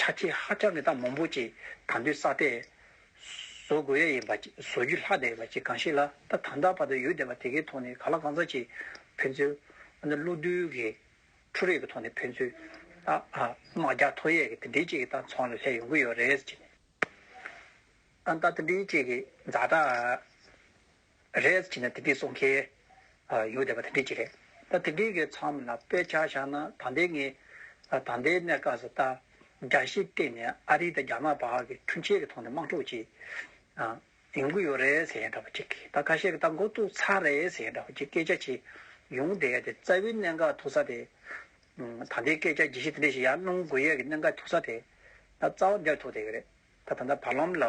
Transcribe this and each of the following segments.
ཆ་ཆེ་ཧ་ཅང་གི་སྟངས་མང་པོ་ཅིག་དང་དུས་བསགས་ཏེ། བཟོ་དགོས་ཡ་ཡིན་པ་ཅིག་བཟོ་རྒྱུ་ལྷག་བསྡད་ཡོད་པ་ཅིག་གང་ཞིག་ལ་ད་དང་ད་བར་དུ་ཡུལ་སྡེ་བ་དེ་གའི་ཐོག་ནས་ག་ལ་གང་ཟག་ཅིག་ཕན་ཚུན། འོ་ན་བློ་བསྡུ་གི་འཕྲུལ་རིག་གི་ཐོག་ནས་ཕན་ཚུན། དམག་རྒྱག་ཐོ་ཡས་ཀྱི་དེ་འདྲའི་ཅིག་གི་སྟངས་ཚང་ལ་སླེབས་ཡོང་གི་ཡོད་རེད། ད་ལྟ་དེ་འདྲའི་ཅིག་གི་འཛའ་དྲག། རེད་བྱས་ན་དེ་འདྲས་སོང་ཁེལ་ཡོད་བསྡད་པ་དེ་འདྲས་ཀྱི་རེད། ད་དེ་འདྲས་ཀྱི་མཚམས་ལ་དཔེ་ཆ་བཞག་ན་ད་ལྟའི་ངའི་ད་ལྟའི་གནས་སྐབས་སུ་ལྟ་རྒྱ་ཞིག་བལྟས་ནས་ཨ་རི་དང་རྒྱ་དམར་བར་གྱི་འཕྲུལ་ཆས་ཀྱི་ཐོག་ནས་དམག་འཁྲུག་ཅིག་ཡོང་གི་ཡོད་རེད་ཟེར་ཡས་འདྲ་བོ་ཅིག་གིས་ད་ཁ་ཤས་ཀྱི་ད་མགོ་བཙུགས་ཚར་རེད་ཟེར་ཡས་འདྲ་བོ་ཅིག་སྐད་ཆ་བྱས་ཡོང་བསྡད་དེ་རྩ་བའི་གནད་འགག་ཐུག་ས་དེ་ད་ལྟའི་སྐད་ཆ་བརྗེད་གཞི་དེ་འདྲས་ཤིག་ཡར་སྣང་དགོས་ཡས་ཀྱི་གནད་འགག་ཐུག་ས་དེ་ད་རྩ་བ་འདིར་ཐུག་བསྡད་ཀྱི་རེད། ད་ད་ལྟ་བར་ལམ་ལ་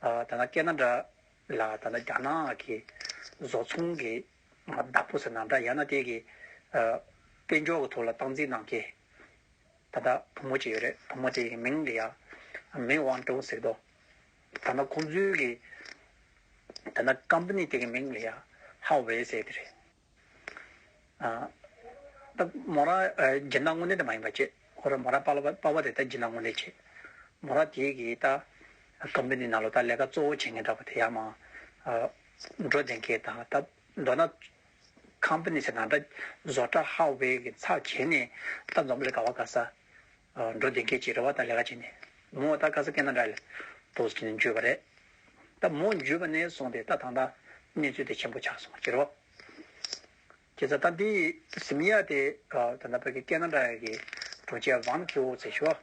ད་ད་སྐད་སྣ་འདྲ། ལ་ད་ལྟ་རྒྱ་ནག་གི་བཟོ་ཚོང་གི་བདག་པོ་ཟེར་ན་འདྲ་ཡང་ན་དེ་གི་དཔལ་འབྱོར་གི་ཐོག་ལ་སྟངས་འཛིན་གནང་མཁན་ད་ལྟ་བུ་མོ་གཅིག་ཡོད་རེད་བུ་མོ་དེ་གི་མིང་གི་ཡ་མེན་ཝང་ཀྲོའུ་ཟེར་དོ་ད་ན་ཁོང་ཚོའི་གི་ད་ན་ཀམ་པ་ནི་དེ་གི་མིང་གི་ཡ་ཧའོ་ཝེ་ཟེར་དེ་རེད། ད་མོ་ར་སྦྱིན་བདག་དངོས་གནས་དེ་མ་ཡིན་པ་བྱེད། ཁོ་ར་མོ་ར་དཔའ་བོ་དེ་ད་སྦྱིན་བདག་དངོས་གནས་བྱེད། མོ་ར་དེ་གིས་ད་ཀམ་པི་ནི་ནང་ལོ་ད་ལས་ཀ་གཙོ་བོ་བྱེད་མཁན་འདྲ་པོ་དེ་ཡག་མ། འགྲོ་བདེན་མཁན་དང་ད་མདོ་ན་ཀམ་པི་ནི་ཆེ་ན་འདྲ་བཟོ་གྲ་ཧ་བེ་གི་ཚགས་བྱེད་ནས་ད་འཛོམས་ལས་དགའ་བ་དགའ་ས། འགྲོ་འདི་སྐད་ཅེས་རེ་བ་དང་ལས་ཀ་བྱས་ནས། མོའོ་རྟ་དཀར་ས་སྐེ་ན་འདྲ། ལྟོ་ཟེར་ནས་འཇུས་པ་རེད། ད་མོ་འཇུས་པ་ནས་བཟུང་སྟེ་ད་ཐང་ཐང། གནས་ཚུལ་དེ་ཆེན་པོ་ཆགས་སོང་ཁྱེར་རོ། ཁྱེད་ཚ་ད་འདིའི་གཟིམ་ཡ་དེ། ད་ནཱ་བྷེ་ཀི་སྐེ་ན་འདྲ་ཡ་གི། གྲོ་ཆས་བང་ཁི་ཨོ་ཚེ་ཤོ།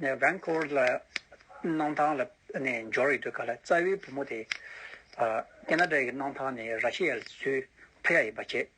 ནས་བན་ཁོ་ལ། སྣང་ཐང་ལ་ནས་འབྱོར་ཡོད་དུས་ག་ལ་རྩ་བའི་བུ་མོ་དེ། སྐེ་ན་འདྲ་ཡ་གི་སྣང་ཐང་ནས་ར་ཤི་ཡ་ལ་ཚུད། ཕུ་ཡ་ཡིན་པ་བྱས།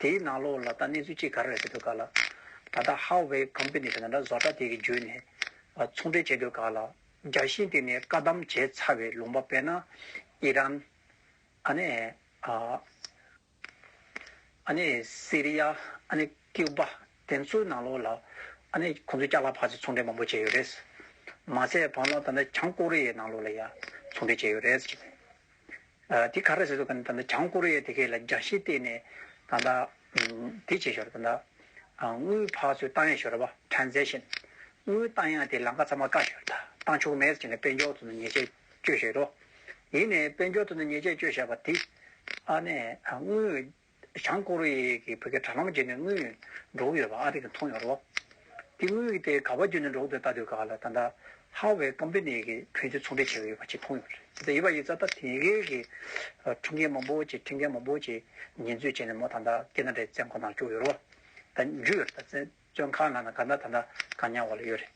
དེའི་ནང་ལོགས་ལ་ད་གནས་ཚུལ་ཅི་ག་རེ་རེད་ཟེར་དུས་ག་ལ། ད་ལྟ་ཧའོ་ཝེ་ཀམ་པི་ནི་ཟེར་ན་འདྲ་བཟོ་གྲ་དེ་གི་འཇུས་ནས་ཚོང་འབྲེལ་བྱེད་དུས་ག་ལ། རྒྱ་ཤིང་དེ་ནས་བཀའ་གདམས་བྱས་ཚར་བའི་ལུང་པ་པེ་ན་ཨི་རན། ཨ་ནི་ཨ། ཨ་ནི་སི་རི་ཡ་ཨ་ནི་ཀིའུ་པ་དེ་ཚོའི་ནང་ལོགས་ལ་ཨ་ནི་ཁོང་ཚོས་སྐྱག་ལ་ཕག་ཚིལ་ཚོང་འབྲེལ་མང་པོ་བྱས་ཡོད་རེད། མ་ཟད་བམ་ལ་ད་ནི་བྱང་ཀོ་རི་ཡའི་ནང་ལོགས་ལ་ཡང་ཚོང་འབྲེལ་བྱས་ཡོད་རེད། དེ་ག་རེ་བྱེད་ཐུབ་ཀ་ན་བྱང་ཀོ་རི་ཡའི་དེ་གའི་ལ་རྒྱ་ཤེས་བལྟས་ནས་ད་ལྟ་དེ་བྱེད་ཞོར་དུ་ད་དངུལ་ཕག་ཚོའི་ཏང་ཡག་ཞོར་བ Transaction དངུལ་ཏང་ཡག་དེ་ལངས་ཀ་ཚང་མ་བཀག་ཞོར་ད་ཏང་ཕྱུག་མེད་ཅེས་ནས་དཔལ་འབྱོར་དུ་ནས་ཉེས་ཆད་གཅོད་ཞོར་རོ། ཡིན་ནས་དཔལ་འབྱོར་དུ་ནས་ཉེས་ཆད་གཅོད་བཞག་པ་དེ་ཨ་ནས་དངུལ་བྱང་ཀོ་རི་ཡའི་གིས་བོད་ཀྱི་དྲ་ལམ་བརྒྱུད་ནས་དངུལ་འགྲོ་གི་ཡོད་པ་ཨ་རིས་མཐོང་ཡོད་རོགས། དེ་དངུལ་དེ་ག་བ་བརྒྱུད་ནས་འགྲོ་གི་འདུག་ལྟ་དུས་ག་ལ་ད་ལྟ Huawei Company གིས་བོད་དུ་ཚོང་འབྲེལ་བྱེད་ཀྱི་ཡོད་པ་གཅིག་མཐོང་ཡོད་རེད། དེ་ལྟ་ཡོད་པ་ཡིན་ཙང་ད་དེ་གའི་གི་ཁྲིམས་འགལ་མང་པོ་ཅིག་ཁྲིམས་འགལ་མང་པོ་ཅིག་ཉེས་འཛུགས་བྱས་ནས་མོ་ད་ལྟ་སྐད་ན་འདྲའི་བཙན་ཁང་ནང་བཅུག་ཡོད་རོགས། ད་འཇུ་ཡོད་རེད་ད་བཙོན་ཁང་ནང་ན་ག་ན་ད་ལྟ་གང་ཉར་བ་ལ་ཡོད་རེད།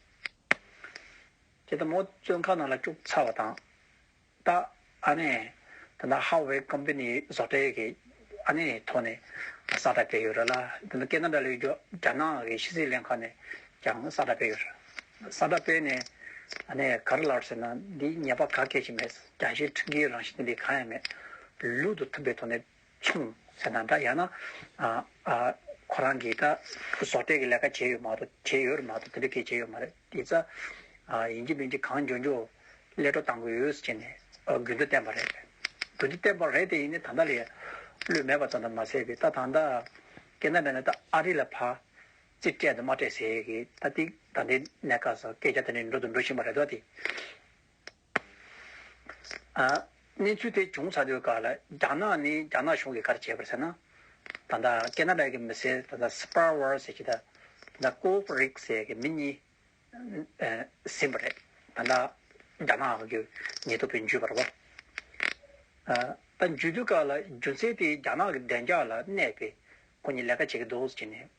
དེ་ལྟ་མོ་བཙོན་ཁང་ནང་ལ་བཅུག་ཚར་བ་དང། ད་ཨ་ནེ། ད་ནི་ཧྭ་ཝེ་ཀོམ་པི་ནིའི་བཟོ་གྲྭའི་གི་ཨ་ནེ་ཐོག་ནས་ཀྱང་ས་ཁྲ་སྤེལ་ཡོད་རེད་ལ། ད་ནི་ཀེ་ན་རྡ་ལི་རྒྱོ་རྒྱ་ནག་གི་ཕྱི་སྲིད་ལྷན་ཁང་ནས་ཀྱང་ས་ཁྲ་སྤེལ་ཡོད་རེད། ས་ཁྲ་སྤེལ་ནས་ཨ་ནེ་གར་ལར་ཟེར་ན་འདིའི་ཉེས་པ་ག་སྐད་ཅིག་མེད། རྒྱ་ཆེའི་ཁྲིམས་འགལ་རང་བཞིན་འདི་གང་ཡང་མེད། ལུགས་དང་མཐུན་པའི་ཐོག་ནས། ཆུང་ཟེར་ན་འདྲ་ཡང་ན། ཁོ་རང་གིས་ད་བཟོ་གྲྭའི་གི་ལས་ཀ་བྱས་ཡོད་མ་གཏོགས་བྱས་ཡོད་རེད་མ་གཏོགས་དེ་འདྲ་སྐད་བྱས་ཡོད་མ་རེད་དེ་ཚ། ཡིན་གྱི་མིན་གྱི་གང་འཇོན་འཇོན་ཀླད་སྒྲོ་གཏང་གི་ཡོད་ཅེས་ནས་དགོས་འདུན་བསྟན་པ་རེད། དགོས་འདུན་བསྟན་པ་རེད་དེ་ཡིན་ནས་ད་ལྟ་ལས་བློས་མེད་པ་ཙམ་དུ་མ་ཟད་པའི་ད་ད་ལྟ། སྐད་ན་མེད་ན་ད་ཨ་རི་ལ་ཕ། རྩིས་སྤྲད་དང་མ་སྤྲད་ཟེར་གི་ད་ཏིག་ད་ལྟའི་གནས་སྐབས་སུ་སྐད་ཆ་དེ་འདྲ་འགྲོ་དང་འགྲོ་བཞིན་པ་རེད་དོ་དེ། གནས་ཚུལ་དེ་བྱུང་ཚར་དུས་ཀར་ལ་རྒྱ་ནག་ནས་རྒྱ་ནག་གཞུང་གིས་ག་རེ་བྱས་པར་ཟེར་ན། ད་ལྟ་ཀེ་ནཱ་རཱ་གི་མི་སེར་ད་ལྟ་སྤར་ཝར་ཟེར་གྱི་ད་ལྟ་ཀོའུ་ཕུ་རིག་ཟེར་གྱི་མི་གཉིས་ཟིན་པ་རེད། ད་ལྟ་རྒྱ་ནག་གི་ཉེས་རྡུང་བོད་འཇུས་པར་བ། ད་འཇུས་དུས་ཀར་ལ་རྒྱུ་མཚན་དེ་རྒྱ་ནག་གི་བདེ་འཇགས་ལ་གནས་པས་ཁོ་གཉིས་ལས་ཀ་བྱེད་ཀྱི་འདུག་ཟེར་གྱི་ནས།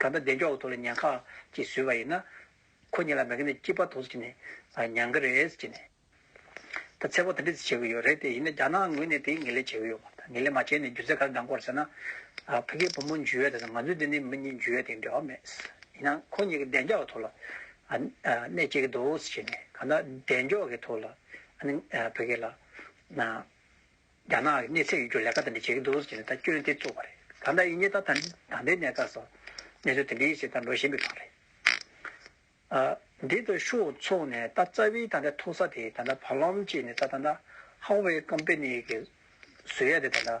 ག་ད་བདེ་མཆོག་གི་ཐུགས་ལ་ཉན་ཁ་ཅིག་བཟོས་པ་ཡིན་ན། ཁོ་གཉིས་ལ་མེད་ཀི་ནི་སྐྱིད་པ་ཐོགས་སུ་བྱས་ནས་ཉན་གི་རེད་ཟེར་གྱི། ད་ཚེ་བག་དེ་འདྲས་བྱེད་ཀྱི་ཡོད་རེད་དེ་ཡིན་ན་རྒྱ་ནག་ངོས་ནས་དེ་ངེས་ལེ་བྱེད་ཀྱི་ཡོད་པ་ད་ངེས་ལེ་མ་བྱས་ནས་རྒྱུ་མཚན་ག་རེ་འདང་དགོས་རེད་ཟེར་ན། ཕ་གིའི་བུ་མོ་འཇུ་བས་ད་ང་ཚོའི་འདི་ནས་མི་གཉིས་འཇུ་བས་དེ་འབྲེལ་བ་མེད། ཡིན་ན་ཁོ་གཉིས་ཀྱི་བདེ་མཆོག་གི་ཐུགས་ལ་ནས་བྱེད་ཀྱི་འདུག་ཟེར་གྱི། ག་ད་བདེ་མཆོག་གི་ཐུགས་ལ་ཕ་གི་ལ། རྒྱ་ནག་གི་གནས་ཚད་ཡོད་རྒྱུར་ལས་ཀ་དེ་འདྲ་བྱེད་ཀྱི་འདུག་ཟེར་ནས་ད་སྐྱོན་དེ་བཙུགས་པ་རེད། ད་ལྟ་ཨིན་ཇི་དང་དང་པའི་གནས་སྟངས་སོགས་གནས་ཚུལ་དེ་འདྲའི་ཞིག་ལྟར་འགྲོ་བཞིན་པའི་སྐོར་རེད། འདི་ལྟར་ཤོག་ཚོགས་ནས་ད་རྩ་བའི་ད་ལྟའི་ཐུག་ས་དེ་ད་ལྟ་བར་ལམ་གཅིག་ནས་ད་ད་ལྟ Huawei Company གི་བཟོས་ཡ་དེ་ད་ལྟ་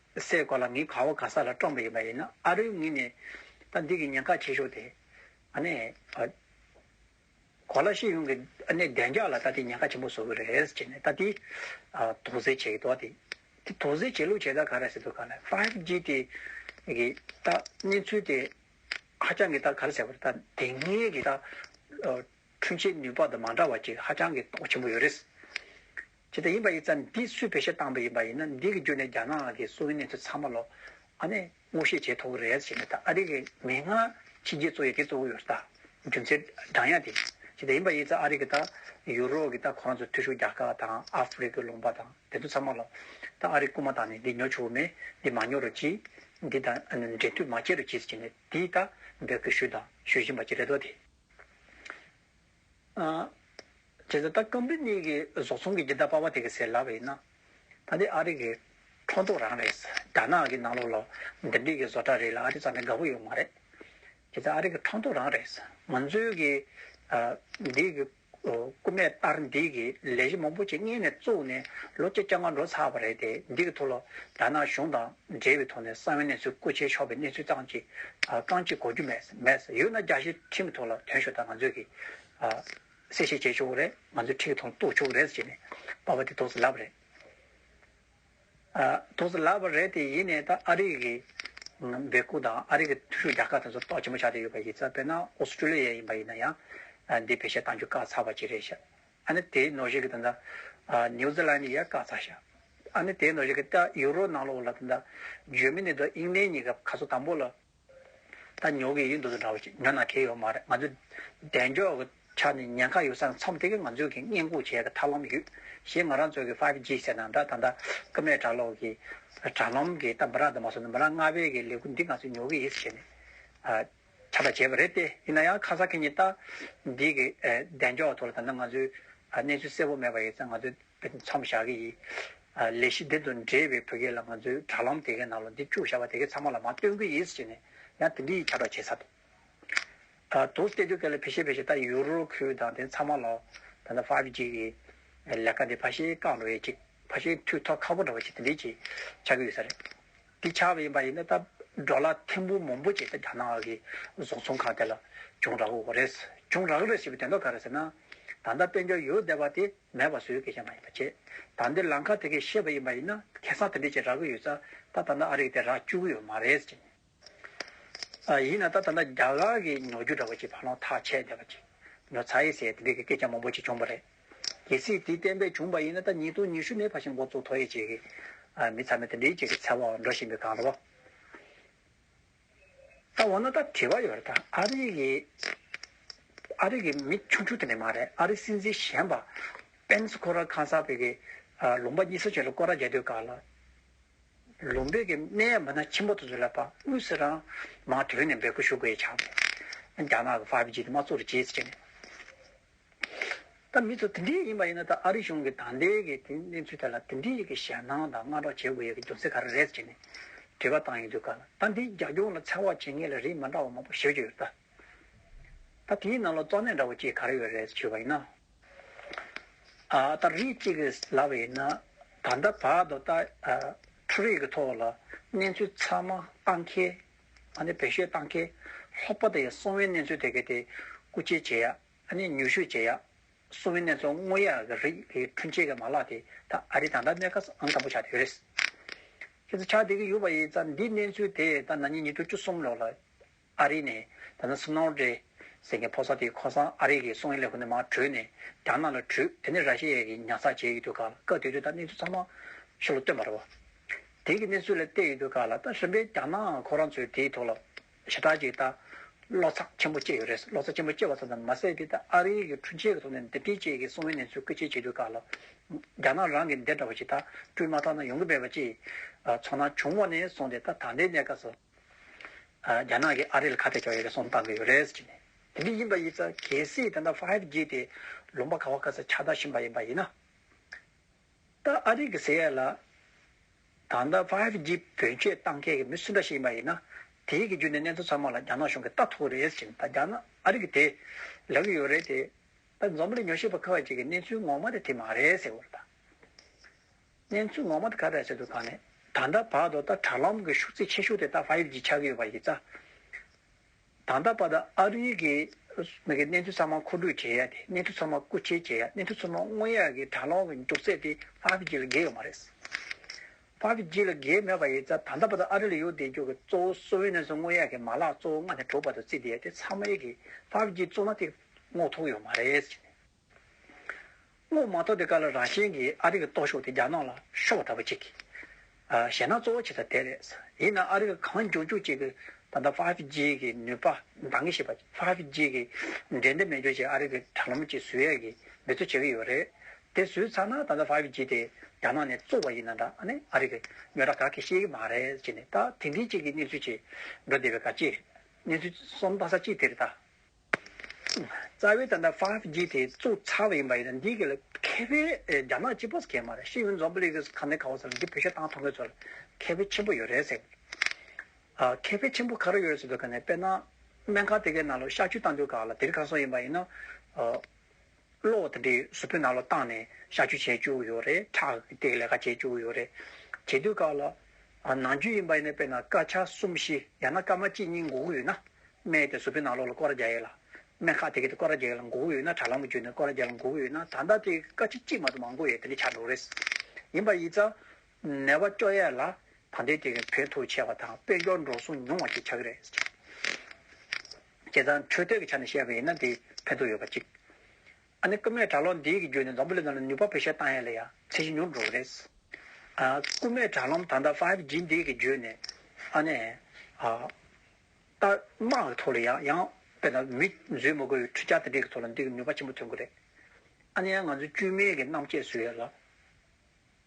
སའི་གོ་ལ་ངའི་ག་བ་ག་ས་ལ་བཀྲོངས་པ་ཡིན་པ་ཡིན་ན་ཨ་རོའི་ངོས་ནས་ད་འདི་གི་ཉེན་ཁ་ཆེ་ཤོས་དེ་ཨ་ནི་གོ་ལ་ཤེས་ཡོན་གྱི་ཨ་ནི་བདེ་འཇགས་ལ་ད་དེ་ཉེན་ཁ་ཆེན་པོ་བཟོ་གི་རེད་ཟེར་ཅེས་ནས་ད་དེ་དོགས་ཟེར་བྱེད་ཀྱི་འདུག་དེ་དེ་དོགས་ཟེར་བྱེད་ལུགས་བྱེད་སྟངས་ག་རེ་ཟེར་འདུག་ག་ལ Five G དེ་གི་ད་གནས་ཚུལ་དེ་ཧ་ཅང་གི་ད་ག་རེ་ཟེར་བ་ད་དེ་སྔའི་གི་ད་འཕྲུལ་ཆས་ནུས་པ་དང་མ་འདྲ་བ་ཅིག་ཧ་ཅང་གི་དོགས་ཆེན་པོ་ཡོད་རེད། ཇི་ལྟར་ཡིན་པ་ཡིན་ཙམ་འདི་སུས་བེད་སྤྱད་བཏང་བ་ཡིན་པ་ཡིན་ན་འདི་གི་རྒྱུ་ནས་རྒྱ་ནག་གི་སྲོལ་རྒྱུན་གནས་ཚུལ་ཚང་མ་ལོག་ཨ་ནི་ངོ་ཤེས་བྱས་ཐོག་རེད་ཟེར་ན་ད་ཨ་རི་གི་མི་སྔ་ཕྱི་རྒྱལ་གཙོ་ཡི་གེ་གཙོ་བོ་ཡོད་ས་ད་རྒྱུ་མཚན་བགྲང་ཡ་དེ་ཇི་ལྟར་ཡིན་པ་ཡིན་ཙམ་ཨ་རི་གི་ད་ཡུ་རོབ་གི་ད་ཁོ་རང་ཚོ་མཐུ་ཤོར་རྒྱ་དཀར་དང་ཨ་ཧྥི་རི་ཀའི་ལུང་པ་དང་དེ་ཚོ་ཚང་མ་ལོག་ད་ཨ་རི་རྐུ་མ་དང་ནི་འདི་ཉོ་ཆོག་མེད་འདི་མ་ཉོ་རུ་གྱིས་འདི་ད་འབྲེལ་མཐུད་མ་བྱེད་རུ་གྱིས་ཟེར་གྱིས་ནི་འདི་ད་འབོད་སྐུལ་ཞུས་དང་ཞུ་བཞིན་པ་ཅི་རེད་དོ་དེ། བྱས་ཙང་ད་སྐམ་རིད་གཉིས་ཀྱི་བཟོ་ཚོང་གི་རྒྱལ་དར་པར་བ་དེ་གི་ཟེར་ལབ་ཡིན་ན། ད་འདི་ཨ་རི་གི་ཁྲོམ་ཐོག་རང་རེད། རྒྱ་ནག་གི་ནང་ལོག་ལ་འདི་འདྲིས་གི་བཟོ་གྲ་རེད་ལ་ཨ་རི་ཙམ་ནས་དགའ་བོ་ཡོད་མ་རེད། བྱས་ཙང་ཨ་རི་གི་ཁྲོམ་ཐོག་རང་རེད། ང་ཚོའི་གི་འདིས་གི་རྐུ་མས་ཨར་འདིས་གི་ལས་གཞི་མང་པོ་ཆེ་གཉེར་ནས་བཙུགས་ནས་ལོ་བཅོ་བརྒྱ་ལྔ་འགྲོ་ཚར་བ་རེད་དེ་འདི་གི་ཐུགས་ལ་རྒྱ་ནག་གཞུང་དང། འབྲེལ་བའི་ཐོག་ནས་གསང་བའི་གནས་ཚུལ་སྐུ་ཕྱྭའི་ཕྱོགས་པའི་གནས་ཚུལ་སྟངས་ཀྱི་རྐང་གཅིག་གོ་རྒྱུ་མེད། ཡོད་ན་རྒྱ་ཆེའི་ཁྲིམས་ཀྱི་ཐོག་ལ་དོན་ཞུ་དང་ང་ཚོས་ཀྱིས་གསལ་བཤད་བྱས་ཆོག་གི་རེད། ང་ཚོས་ཁྲིད་ཀྱི་ཐོག་ལ་གཏུགས་ཆོག་གི་རེད་ཟེར་ནས་པར་བ་དེ་དོགས་ཟིན་ལབ་རེད། དོགས་ཟིན་ལབ་རེད་དེ་ཡིན་ནས་ད་ཨ་རིག་གི་སྦེལ་ཀུ་དང་ཨ་རིག་གི་ཐུ་ཧྲུའུ་རྒྱ་གར་དེ་ཚོར་གཏོགས་ཆེན་པོ་ཆགས་བསྡད་ཡོད་པ་ཡིན་ཙང་དཔེར་ན་ཨོ་སི་ཀྲུ་ལི་ཡ་ཡིན་པ་ཡིན་ན་ཡང་འདི་བེད་སྤྱད་གཏང་རྒྱུ་དཀའ་ཚར་བ་ཅིག་རེད། ཨ་ནི་དེའི་ནོར་ཞིག་གི་དོན་དང། ནིའུ་ཛི་ལན་ནི་ཡ་ཀ་ཚ་ཤ། ཨ་ནི་དེའི་ནོར་ཞིག་གི་ཏ་ཡུ་རོ་ནང་ལོག་ལ་དོན་དང། འཇོན་མི་ནི་དོ་དབྱིངས་ནས་གཉིས་ཀ་ཁ་སོ་དང་པོ་ལ། ད་ཉོ་གི་ཡིན་འདུག་ཏུ་འདྲ་བོ་ཅིག་ཉོ་ན་ཁེ་ཡོད་མ་རེད་ང་ཚོའི། བདེ་མཆོག་གི་ཆ་ནས་ཉེན་ཁ་ཡོད་ས་མཚམས་དེ་གའི་ང་ཚོས་གིས་བསྙེན་བཀུར་བྱས་གི་ཐབས་ལམ་ཡོད། ཞེས་ང་རང་ཚོ་གི་ཕཱིབ་ཇི་ཟེར་ན་འདྲ་ད་ལྟ་ཀི་མའི་གྲྭ་ལོག་གི། དྲ་ལམ་གི་ཏཱ་མི་ར་དི་མ་སོ་ནི་མི་ར་ལྔ་པའི་གི་ལས་ཁུར་འདི་ང་ཚོས་ཉོ་གི་ཡིན་ཟེར་ནས། ཆ་ཚ་བྱས་པ་རེད་དེ། ཡིན་ན་ཡང་ཁ་ཚ་ཁེ་ཉེ་ལྟ་འདི་གི་གདེང་འཇོག་ཐོག་ལ་ད་ནི་ང་ཚོའི་གནས་ཚུལ་གསལ་བོ་མེད་པ་ཡིན་ཚེ་ང་ཚོས་མཚམས་བཞག་གི་ཡིན། ལས་གཞི་འདི་དང་འབྲེལ་བའི་བོད་སྐད་ལ་ང་ཚོས་དྲ་ལམ་དེ་གའི་ནང་ལ་འདི་བཅུག་བཞག་པ་དེ་གའི་ཚང་མ་ལ་མ་སྟོན་གི་ཡིན་ཟེར་ནས་ཡང་དེ་འདྲའི་ཡིག་ཆ་སྒྲོག་བྱས་ཚར་འདུག་དོགས་སུ་བལྟས་དུས་ག་ལེར་བྷི་ཤེ་བྷི་ཤེ་ད་ཡུ་རོ་ཁུལ་དང་དེ་ཚང་མ་ལ་ད་ནི Five G གི་ལས་ཀ་འདི་ཕ་ཤེལ་བཀག་འགྲོ་ཡས་ཅིག་ཕ་ཤེལ་མཐུད་ཐོག་ཁ་པོ་འདྲ་བ་ཅིག་དེ་འདྲས་ཅིག་ཆགས་ཀྱི་ཡོད་ས་རེད། དེ་ཆགས་པ་ཡིན་པ་ཡིན་ན་ད་འགྲོ་ལ་ཐེམ་བུ་མང་པོ་བྱས་ཏེ་རྒྱ་ནག་གི་བཟོ་ཚོང་ཁང་དེ་ལ་གྱོང་རག་དགོས་རེད། གྱོང་རག་རེད་ཞེས་པའི་དོན་དག་ག་རེད་ཟེར་ན། ད་ལྟ་དཔལ་འབྱོར་ཡོད་བསྡད་པ་དེ་མེད་པ་བཟོས་གལ་ཆེན་པ་ཡིན་པ་བྱས། ད་འདིར་ལམ་ཁ་དེ་གས་ཤེས་པ་ཡིན་པ་ཡིན་ན་ཁེ་བཟང་དེ་འདྲས་ཅིག་རག་གི་ཡོད་ས་ད་ད་ནི་ཨ་རིག་དེ་རག་བཅུག་གི་ཡོད་མ་རེད་ཅེས། ཡིན་ན་ད་ད་ནི་རྒྱ་གར་གྱི་ཉོ་རྒྱུ་འདྲ་བ་ཅིག་ཕར་ལོང་ཐག་ཆད་བསྡད་པ་ཅིག་ཉོ་ཚ་ཡིན་ཟེར་དེ་འདྲས་ཀྱི་སྐད་ཆ་མང་པོ་ཅིག་བྱུང་བ་རེད། གལ་སྲིད་དེ་བསྟན་པས་བྱུང་བ་ཡིན་ན་ད་ཉིས་སྟོང་ཉི་ཤུ་ནས་ཕར་ཕྱིན་འགོ་གཙོ་ཐོ་ཡེ་བྱེད་ཀྱི་མི་ཚང་མས་དེ་འདྲའི་བྱེད་ཀྱི་ཚད་འོག་འགྲོ་བཞིན་པའི་སྒང་རོ། ད་འོ་ན་ད་དྲི་བ་ཡོད་རེད་ད་ཨ་རིག་གི་ཨ་རིག་གི་མི་ཆུང་ཆུང་དེ་འདྲ་མ་རེད་ཨ་རིག་སྲིད་འཛིན་གཞན་པ་པེན་སི་ཁོ་ར་ཁང་གསར་པའི་གི་ལུང་པ་གཉིས་ས་ཆོས་ལ་སྐོར་ར་རྒྱག་དུས་སྐར་ལ་ལུང་པའི་གི་གནས་ཡ་མི་སྣ་ཆེན་པོ་དེ་ཚོ་ལ་པ་དངུལ་སེ་རང་མང་དོན་ནས་འབད་སྐུལ་ཞུ་དགོས་ཡས་ཆགས་པས་རྒྱ་ནག་གི་ཧྥ་བྷི་ཇི་དེ་མ་གཙོ་རུ་བྱེད་ཟེར་བྱས་ནས། ད་མི་ཚོ་དེ་འདྲའི་ཡིན་པ་ཡིན་ན་ད་ཨ་རི་གཞུང་གིས་དང་ལེན་གྱི་དེ་གནས་ཚུལ་ཐད་ལ་དེ་འདྲའི་ཡི་གེ་ཞལ་སྣང་དང་སྔ་དྲོ་བྱེད་དགོས་ཡོད་ཀྱི་རྒྱུ་མཚན་ག་རེ་རེད་ཅེས་ནས་དྲི་བ་བཏང་ཡོད་དུས་ཀ་ལ་ད་འདིའི་རྒྱ་སྐྱོང་ལ་ཚེག་བག་བྱེད་མཁན་ལ་རིགས་མ་འདྲ་བ་མང་པོ་ཞིག་ཡོད་ད། ད་དེའི་ནང་ལ་གཙོ་གནད་འདྲ་བོ་གཅིག་ག་རེ་ཡོད་རེད་ཞུས་པ་ཡིན་ན། ཨ་ད་རིགས་གཅིག་གིས་ལབ་པ་ཡིན་ན་ད་ལྟ་བར་དུ་ད་འཕྲུལ་རིག་གི་ཐོག་ལ་གནས་ཚུལ་ཚང་མ་བཏང་གལ། ཨ་ནི་བེད་སྤྱོད་བཏང་གལ། ལྷག་པར་དུ་ཡང་གསང་བའི་གནས་ཚུལ་དེ་གའི་དེ་སྐུ་ཆེ་བྱེད་ཡག། ཨ་ནེ་ཉུ་ཤུ་རྗེ་ཡག། སོ་མི་ནེ་ཚོ་སྔོ་ཡག་གི་རིགས་ལས་ཁྲུན་ཆེ་གི་མ་ལག་དེ་ད་ཨ་རི་དང་ད་མེ་ཁ་སང་དམ་པོ་ཆགས་དེ་ཡོད་རེད། ཁྱེད་ཚོ་ཆགས་དེ་གི་ཡོད་པ་ཡིན་ཙང་འདི་གནས་ཚུལ་དེ་ད་ན་ཉིན་ཉི་ཤུ་བཅུ་གསུམ་ལོག་ལ་ཨ་རི་ནས་ད་ནི་སི་ནོར་ཏྲེ་ཟེར་གི་ཕོ་སར་དེ་ཁོ་སང་ཨ་རི་གི་སོང་ཡིན་ལས་ཁོ་ནི་མ་བྲོས་ནས་རྒྱ་ནག་ལ་བྲོས་དེ་ནི་ར་ཤི་ཡའི་གི་ཉར་ཚགས་བྱས་ཡོད་དུས་ག་ལ་བཀའ་བསྡུས་དུས་ད་གནས་ཚུལ་ཚང་མ་ཤོ་ལོ་སྟོན་པ་རེད་བ། དེ་གི་གནས་ཚུལ་ལ་བལྟས་ཡོད་དུས་ག་ལ་ད་རིམ་པས་རྒྱ་ནག་ཁོ་རང་ཚོའི་དེའི་ཐོག་ལ། བྱེ་བྲག་གཅིག་ལྟར། བློ་འཚབ་ཆེན་པོ་སྐྱེས་ཡོད་རེད་བློ་འཚབ་ཆེན་པོ་སྐྱེས་པ་ཙམ་ཙམ་མ་ཟད་འདི་ལྟར་ཨ་རི་ཡིག་གི་འཕྲུལ་ཆས་ཀྱི་ཐོག་ནས་འདེབས་སྐྱེལ་བཅས་ཀྱི་སྲུང་བའི་གནས་ཚུལ་བཀོད་སྤྱད་བྱེད་དགོས་ཁག་ལ། རྒྱ་ནག་རང་གིས་འདི་འདྲ་བ་ཞིག་ད་སྤྲུལ་མ་ཐག་ན་ཡོང་གི་མེད་པ་བཅས། ཚོར་སྣང་བྱུང་བ་ནས་བཟུང་སྟེ་ད་ད་ལྟའི་གནས་སྐབས་སུ། རྒྱ་ནག་གིས་ཨ་རི་ལ་ཁ་གཏད་གཅོག་ཡོད་རེད་གསུངས་བཏང་གི་ཡོད་རེད། དེ་འདི་ཡིན་པ་ཡིན་ཙང་གལ་སྲིད་དེ་འདྲ་ཕྷཱིབ་ཇི་དེ་ལུང་པ་ག་བ་ག་ས་ཆ་ད་བཞིན་པ་ཡིན་པ་ཡིན་ན། ད་ཨ་རིག་གི་ཟེར་ཡ་ལ། ད་ལྟ Five G བེད་སྤྱོད་བཏང་མཁན་གྱི་མི་སུ་འདྲ་ཞིག་ཡིན་པ་ཡིན་ན། དེའི་རྒྱུ་ནི་གནས་ཚུལ་ཚང་མ་ལ་རྒྱ་ནག་གཞུང་གིས་ལྟ་ཐུག་རེད་ཟེར་ཞིང་ད་རྒྱ་ནག་ཨ་རིག་དེ་ལེགས་ཡོད་རེད་དེ། ད་འཛམ་གླིང་ཉོ་ཤེས་པ་ཁག་ཅིག་གིས་གནས་ཚུལ་ངོ་མ་དེ་དེ་མ་རེད་ཟེར་བར་ད། གནས་ཚུལ་ངོ་མ་དེ་ག་འདྲ་ཟེར་དུས་ད་ནི་ད་ལྟ་བར་དུ་ད་དྲ་ལམ་གྱི་ཤུགས་ཚད་ཆེ་ཤོས་དེ་ད Five G ཆགས་ཀྱི་ཡོད་པ་ཡིན་ཙང། ད་ལྟ་བར་དུ་ཨ་རིའི་གི་གནས་ཚུལ་ཚང་མ་མཁོ་སྒྲུག་བྱེད་ཡ་དེ་གནས་ཚུལ་ཚང་མ་རྐུ་འཁྱེར་བྱེད་ཡ་གནས་ཚུལ་ཚང་མ་དངོས་ཡག་གི་དྲ་ལོང་གི་འདུག་ཚད་དེ་ཕ་བྷི་ཇི་ལ་འགེལ་ཡོད་མ་རེད། ཕ་བྷི་ཇི་ལ་འགེལ་མེད་པ་ཡིན་ཚ་ད་ལྟ་བར་དུ་ཨ་རི་ལ་ཡོད་བསྡད་རྒྱུ་གི་གཙོ་བོ་སོ་བྷི་ནན་སི་དངོས་ཡག་གི་མ་ལག་གཙོ་བོ་སྔ་ནས་གྲོགས་པ་དང་རྩིས་བསྡད་ཡ་དེ་ཚང་མ་ཡིག་གི་ཕ་བྷི་ཇི་བཙུགས་ན་དེ་རྔོག་ཐུག་ཡོད་མ་རེད། སྔོན་མ་ཐོག་དེ་ག་ལ་རང་བཞིན་གྱིས་ཨ་རི་གི་སྟོབས་ཤུགས་དེ་རྒྱ་ནག་ལ་ཤོར་བ་ལྟ་བུ་ཅིག་བྱས་ན་གཙོ་བོ་བྱེད་ས་དེ་རེད། ཡིན་ནའང་ཨ་རི་ག་གང་འཇོག་འཇོག་ཅིག་གིས་ད་ལྟ Five G གི་ནུས་པ་འདང་གི་ཤེས་པ Five G གི་འགྲན་ཟླ་མི་སྦྱོར་ཅིག་ཨ་རི་གི་དྲ་ལམ་གྱིས་བཟོས་ཡ་གི་མི་ཚོ་བྱེད་ཀྱི་ཡོད་རེད། དེ་བཟོས་ཚར་ན་ད་ལྟ Five G དེ་རྒྱ་ནག་ནས་བཙུགས་པ་ཡིན་ན་འདྲ་ཨ་ནི་ཨ་རི་གི་མི་ར་ག་གིས་ཤེས་ཀྱི་མ་རེད་ཅེས་ནས་ད་དེ་འདྲིའི་ཅིག་གི་གནས་ཚུལ་ཅིག་འགྲོ་བསྡད་པའི་ག་ཅིག་རེད། གནས་ཚུལ་གསོམ་སྟངས་ས་ཅིག་དེ་རེད་ད། རྩ་བའི་ད་ལྟ Five G དེ་བཙུགས་ཚར་བ་ཡིན་པ་ཡིན་ན་འདིའི་ལ་ཁེ་ཕན་རྒྱ་ནག་སྤྱི་པོ་ཁེ་མ་རེད་ཤེས་ཡོན་རྫོང་པོ་ལི་གིས་གང་ནས་གང་བ་ཟེར་ན་འདི་བོད་ཤོག་ཐང་ཐོག་མའི་ཚོར་ཁེ་ཕན་ཆེན་པོ་ཡོད་རེད་ཟེར། ཁེ་ཕན་ཆེན་པོ་ག་རེ་ཡོད་རེད་ཟེར་དུས་ཀ་ནས་དཔེར་ན་སྨན་ཁང་དེ་གའི་ནང་ལ་གཤག་བཅོས་བཏང་དུས་ག་ལ་དེ་རིགས་གང་སོང་ཡིན་པ་ཡིན་ན། གློག་དེ་འདྲའི་གཟུ་བོའི་ནང་ལ་བཏང་ནས་བཤགས་བཅོས་བྱས་བཅུག་ཡོད་རེད་ཁྲག་གི་སྟེགས་ལས་ཀ་བྱས་བཅུག་ཡོད་རེད། བྱེད་དུས་ཁག་ལ། ནང་རྒྱུད་ཡིན་པ་ཡིན་ན་དཔེར་ན་སྐར་ཆ་གསུམ་བཞི་ཡང་ན་སྐར་མ་གཅིག་གཉིས་འགོག་གི་ཡོད་ན། སྨན་དེ་གཟུ་བོའི་ནང་ལོགས་ལ་སྐོར་རྒྱག་ཡས་ལ། སྨན་ཁག་དེ་གས་དེ་སྐོར་རྒྱག་ཡས་ལ་འགོག་གི་ཡོད་ན་དྲ་ལམ་གྱི་བརྒྱུད་ནས་སྐོར་རྒྱག་ལ་འགོག་གི་ཡོད་ན་ད་ལྟ་དེ་སྐར་ཆ་གཅིག་མ་གཏོགས་མང་པོ་ཡས་དེ་འདྲ་བྱ་འགྲོ་རེད། ཡིན་པ་ཡིན་ཙང། ནད་པ་སྐྱོ་ཡས་ལ། ད་ལྟའི་དུས་ཀྱི་བོད་ཐུག་ཆེ་བ་དང་དཔལ་འབྱོར་འགྲོ་སོང་ཉུང་བ་ཞིག་ཆགས་ཀྱི་རེད། བྱས་ཙང་འཕྲོད་བསྟེན་གྱི་ཆ་ནས་བཤད་པ་ཡིན་ན་དེ་ཕན་ཐོགས་ཡོད་པ་གཅིག། ཨ་ནི་རྐུན་མས་དྲག་རློམ་འདིའི་རྒྱུ་ནས་འཛམ་བུ་གླིང་ནང་ལ་ནུས་པ་བེད་སྤྱད་བཏང་ཡ་ལ་ཡང་ཚད་གཞི་ཉུང་དུ་འགྲོ་བ་རེད། རྐུན་མས་དྲག་རློམ་ད་ལྟ Five G འདིའི་གི་རྒྱུ་ནས་ཨ་ནི། རྟགས་དམག་གི་ཐོག་ལ་ཡང་ཡང་དཔེར་ན་མི་བཟོས་མ་དགོས་པའི་འཕྲུལ་ཆ་དེ་འདྲས་ཀྱི་ཐོག་ལ་འདིས་ནུས་པ་ཆེན་པོ་ཐོན་གི་རེད། ཨ་ནི་ཡང་ང་ཚོའི་བཅོས་མིན་གྱི་རྣམ་དཔྱད་བཟོས་ཡ་ལ།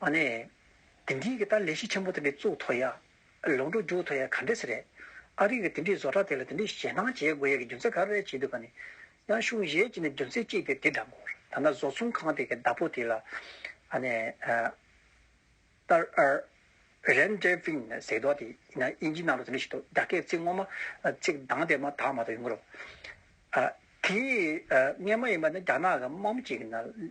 མ་ནས། དེ་འདི་གི་ད་ལས་གཞི་ཆེན་པོ་དེ་འདྲའི་གཙུག་ཐོ་ཡ། ལུང་འགྲོ་འཇུག་ཐོ་ཡ་ག་འདྲས་ས་རེད། ཨ་རིག་གི་དེ་འདྲའི་བཟོ་གྲ་དེ་ལ་དེ་འདྲའི་ཞེད་སྣང་བྱེད་དགོས་ཡ་གི་རྒྱུ་མཚན་ག་རེ་བྱེད་འདུག་ག་ནི། ཡང་གཞུང་གཞས་ཅིག་ནས་རྒྱུ་མཚན་གཅིག་དེ་དེ་འདྲ་མགོར་ད་ན་བཟོ་ཚོང་ཁང་དེ་གི་བདག་པོ་དེ་ལ། ཨ་ནས། ཏར་ཨར། རན་ཏེར་ཕིན་ནས་ཟེར་དོག་དེ་ཡིན་ན་དབྱིན་ཇིའི་ནང་དུ་དེ་འདྲ་ཞིག་འདུག་རྒྱ་སྐད་ཚིག་ངོ་མ། ཚིག་གདངས་དེ་མ་དག་མ་དག་ཡོང་གི་རོ། ཨ། དེ། ངས་མ་ཡིན་པ་ནི་རྒྱ་ནག་གི་དམག་མི་ཅིག་གི་ནང།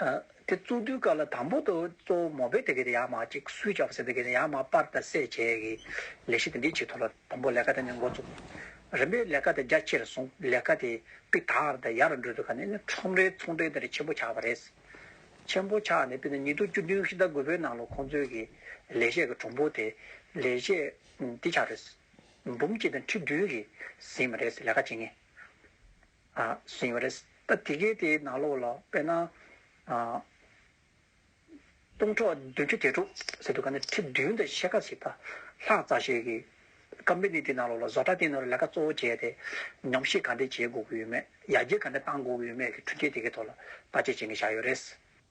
དེ་གཙོ་དུས་སྐབས་ལ་དང་པོ་དུ་གཙོ་བོ་མོ་པའི་དེ་གའི་ཡང་མ་གཅིག་སུས་བྱ་བ་ཟེར་དེ་གའི་ཡང་མ་སྤར་དང་བསྲེས་བཅད་ཀྱི་ལས་གཞི་དེ་འདི་གཅིག་ཐོབ་ལ་དང་པོ་ལས་ཀ་དེ་ནས་འགོ་བཙུགས། རིམ་པས་ལས་ཀ་དེ་རྒྱ་ཆེ་རུ་སོང་ལས་ཀ་དེ་པི་དར་དང་ཡར་འགྲོ་དུས་ཁ་ནས་ནི་ཁྲོམ་རའི་ཚོང་འབྲེལ་དེ་རིགས་ཆེན་པོ་ཆགས་པ་རེད། ཆེན་པོ་ཆགས་ནས་དཔེར་ན་ཉིས་སྟོང་བཅུ་བདུན་ཕྱི་ཟླ་དགུ་པའི་ནང་ལོ་ཁོང་ཚོའི་གི་ལས་གཞས་ཀྱི་གྲོང་པོ་དེ་ལས་གཞས་འདི་ཆགས་རེད། འབུམ་གཅིག་དང་ཁྲི་བདུན་གིས་ཟིན་པ་རེད་ལས་ཀ་བྱེད་ངེས། བཞིན་ཡོད་རེད། ད་དེ་གའི་དེའི་ནང་ལོགས་ལ་དཔེར་ན། སྟོང་ཕྲག་བདུན་ཅུ་གྱ་དྲུག་ཟེར་འདུག་ག་ནི་ཁྲི་བདུན་དང་ཕྱེད་ཀ་ཟིག་དང་ལྷག་བཙའ་ཞིག་གིས་ཀམ་པེ་ནི་དེའི་ནང་ལོགས་ལ་བཟོ་གྲྭ་དེའི་ནང་ལ་ལས་ཀ་གཙོ་བོ་བྱས་ཏེ་ཉམས་ཞིབ་ག་འདི་བྱེད་དགོས་ཀྱི་ཡོད་མེད་ཡར་རྒྱས་ག་འདི་གཏང་དགོས་ཀྱི་ཡོད་མེད་ཀྱི་འཕྲུལ་ཆས་དེ་གའི་ཐོག་ལ་བརྟག་དཔྱད་བྱེད་མཁན་ཞག་ཡོད་རེད།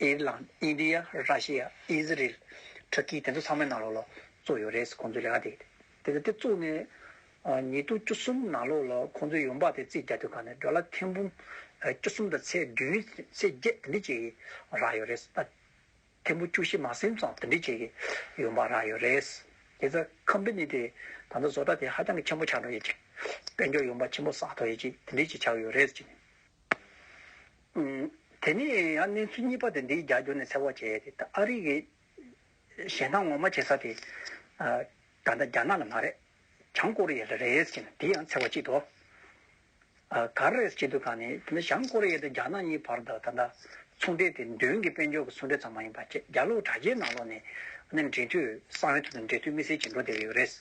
ཨེ་རི་ལང། ཨིན་དྲི་ཡ། ར་ཤི་ཡ། ཨི་ཟི་རེལ། ཁྲི་ཀི་དེ་ཚོ་ཚང་མའི་ནང་ལོགས་ལ་བཙུགས་ཡོད་རེད་ཟེར་ཁོང་ཚོའི་ལས་ཀ་དེ་ཡིན། དེ་ཚོ་དེ་བཙུགས་ནས་ཉིས་སྟོང་བཅུ་གསུམ་ནང་ལོགས་ལ་ཁོང་ཚོའི་ཡོང་འབབ་དེ་རྩིས་རྒྱག་དུས་ཁ་ནས་འགྲོ་ལ་ཐེངས་འབུམ་བཅུ་གསུམ་དང་ཚེས་བདུན་ཚེས་བརྒྱད་དེ་འདྲི་བྱེད་ཀྱི་རག་ཡོད་རེད། ཐེངས་འབུམ་བཅུ་བཞི་མ་སེམས་ཙམ་དེ་འདྲི་བྱེད་ཀྱི་ཡོང་འབབ་རག་ཡོད་རེད། དེ་ཚ་ཁམ་པེ་ནི་དེ་ད་ལྟ་བཟོ་གྲྭ་དེ་ཧ་ཅང་གི་ཆེན་པོ་ཆགས་འགྲོ་ཡོད་ཅིག། དཔལ་འབྱོར་ཡོང་འབབ་ཆེན་པོ་བསགས་ཐོག་ཡོད་ཅིག་དེ་འདྲི་བྱེད་ཆགས་ཡོད་རེད་ཟེར་གྱི། དེ་ནས་ཡང་གནས་ཚུལ་གཉིས་པ་དེ་འདིའི་རྒྱ་སྒྱུར་ནས་ཚེ་དབང་བྱེད་ཡས་དེ་ཨ་རིག་གི་གཞན་དག་ངོ་མ་བྱེད་ས་དེ་ད་ལྟ་རྒྱ་ནག་ལ་མ་རེད་བྱང་ཀོ་རི་ཡ་ལ་རེད་ཟེར་གྱི་འདི་ཡང་ཚེ་དབང་བྱེད་དོ། ག་རེ་རེད་བྱེད་དུ་ག་ནས་དེ་ནི་བྱང་ཀོ་རི་ཡ་དང་རྒྱ་ནག་གཉིས་བར་དུ་ད་ལྟ་ཚོང་འབྲེལ་དེ་མདུན་གྱི་དཔལ་འབྱོར་གྱི་ཚོང་འབྲེལ་ཙམ་མ་ཡིན་པ་ཁྱེད་རྒྱ་ལོ་དྲ་རྒྱའི་ནང་ལོག་ནས་ནས་འབྲེལ་མཐུད་གསང་བའི་ཐོག་ཏུ་འབྲེལ་མཐུད་དམིགས་བསལ་བྱེད་འགྲོ་བསྡད་ཡོད་རེད།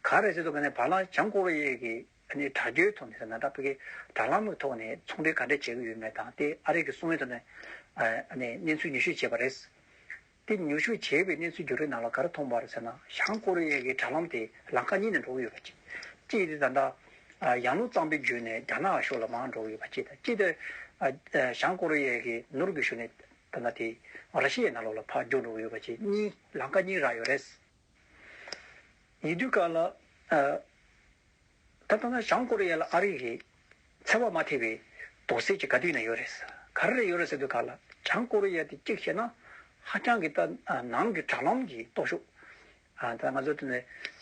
ག་རེ་བྱེད་དུ་ག་ནས་བར་ལ་བྱང་ཀོ་རི་ཡའི་གི་ནས་དྲག་རྒྱའི་ཐོག་ནས་ཟེར་ན་དྲག་པོ་གིས་དྲ་ལམ་གྱི་ཐོག་ནས་ཚོང་འབྲེལ་ག་འདྲ་བྱས་ཀྱི་ཡོད་མེད་དང་དེ་ཨ་རིག་གི་གསུང་ཡོད་དུ་ནས་གནས་ཚུལ་ཉུ་ཤུ་བྱས་པ་རེད། དེ་ཉུ་ཤུ་བྱས་པའི་གནས་ཚུལ་འགྱུར་རིགས་ནང་ལ་ག་རེ་མཐོང་བར་ཟེར་ན་བྱང་ཀོ་རི་ཡ་གི་དྲ་ལམ་དེ་ལང་ཀ་གཉིས་ནས་འགྲོ་གི་ཡོད་པ་གཅིག་གཅིག་དེ་ད་ལྟ་ཡང་ལུགས་གཙང་པོའི་རྒྱུད་ནས་རྒྱ་ནག་ཕྱོགས་ལ་མང་འགྲོ་གི་ཡོད་པ་གཅིག་དང་གཅིག་དེ་བྱང་ཀོ་རི་ཡ་གི་ནུར་གྱི་ཤུ་ནས་ད་ལྟ་དེ་ར་ཤི་ཡའི་ནང་ལོགས་ལ་ཕར་རྒྱུག་འགྲོ་གི་ཡོད་པ་གཅིག་གཉིས་ལང་ཀ་གཉིས་རག་ཡོད་རེད། ཉེ་དུས་ཀ་ལ་ད་ལྟ་ན་བྱང་ཀོ་རི་ཡ་ལ་ཨ་རིག་གིས་འཚེ་བ་མ་ཐེབས་པའི་དོགས་སེལ་གྱི་ག་དུས་ན་ཡོད་རེད་ག་རེ་རེད་ཡོད་རེད་ཟེར་དུས་ཀ་ལ་བྱང་ཀོ་རི་ཡ་དེ་གཅིག་བྱས་ན་ཧ་ཅང་གི་ད་ནང་གི་དྲ་ལམ་གྱི་སྟོབས་ཤུགས་ད་ལྟ་ང་ཚོ་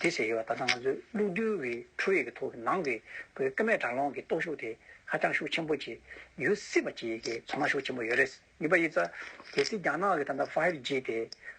དེ་ཟེར་ཡོད་པ་ད་ལྟ་ང་ཚོས་གློག་རྡུལ་གྱི་འཕྲུལ་རིག་གི་ཐོག་གི་ནང་གི་ཀ་མད་དྲ་ལམ་གྱི་སྟོབས་ཤུགས་དེ་ཧ་ཅང་ཤུགས་ཆེན་པོ་གྱི་ཡོད་སྲིད་པ་གཅིག་གི་ཚོར་སྣང་ཤུགས་ཆེན་པོ་ཡོད་རེད་གཉིས་པ་ཡིད་ཚ་གལ་སྲིད་རྒྱ་ནག་གི་ད་ལྟ་ཕཱིབ་ཇི་དེ་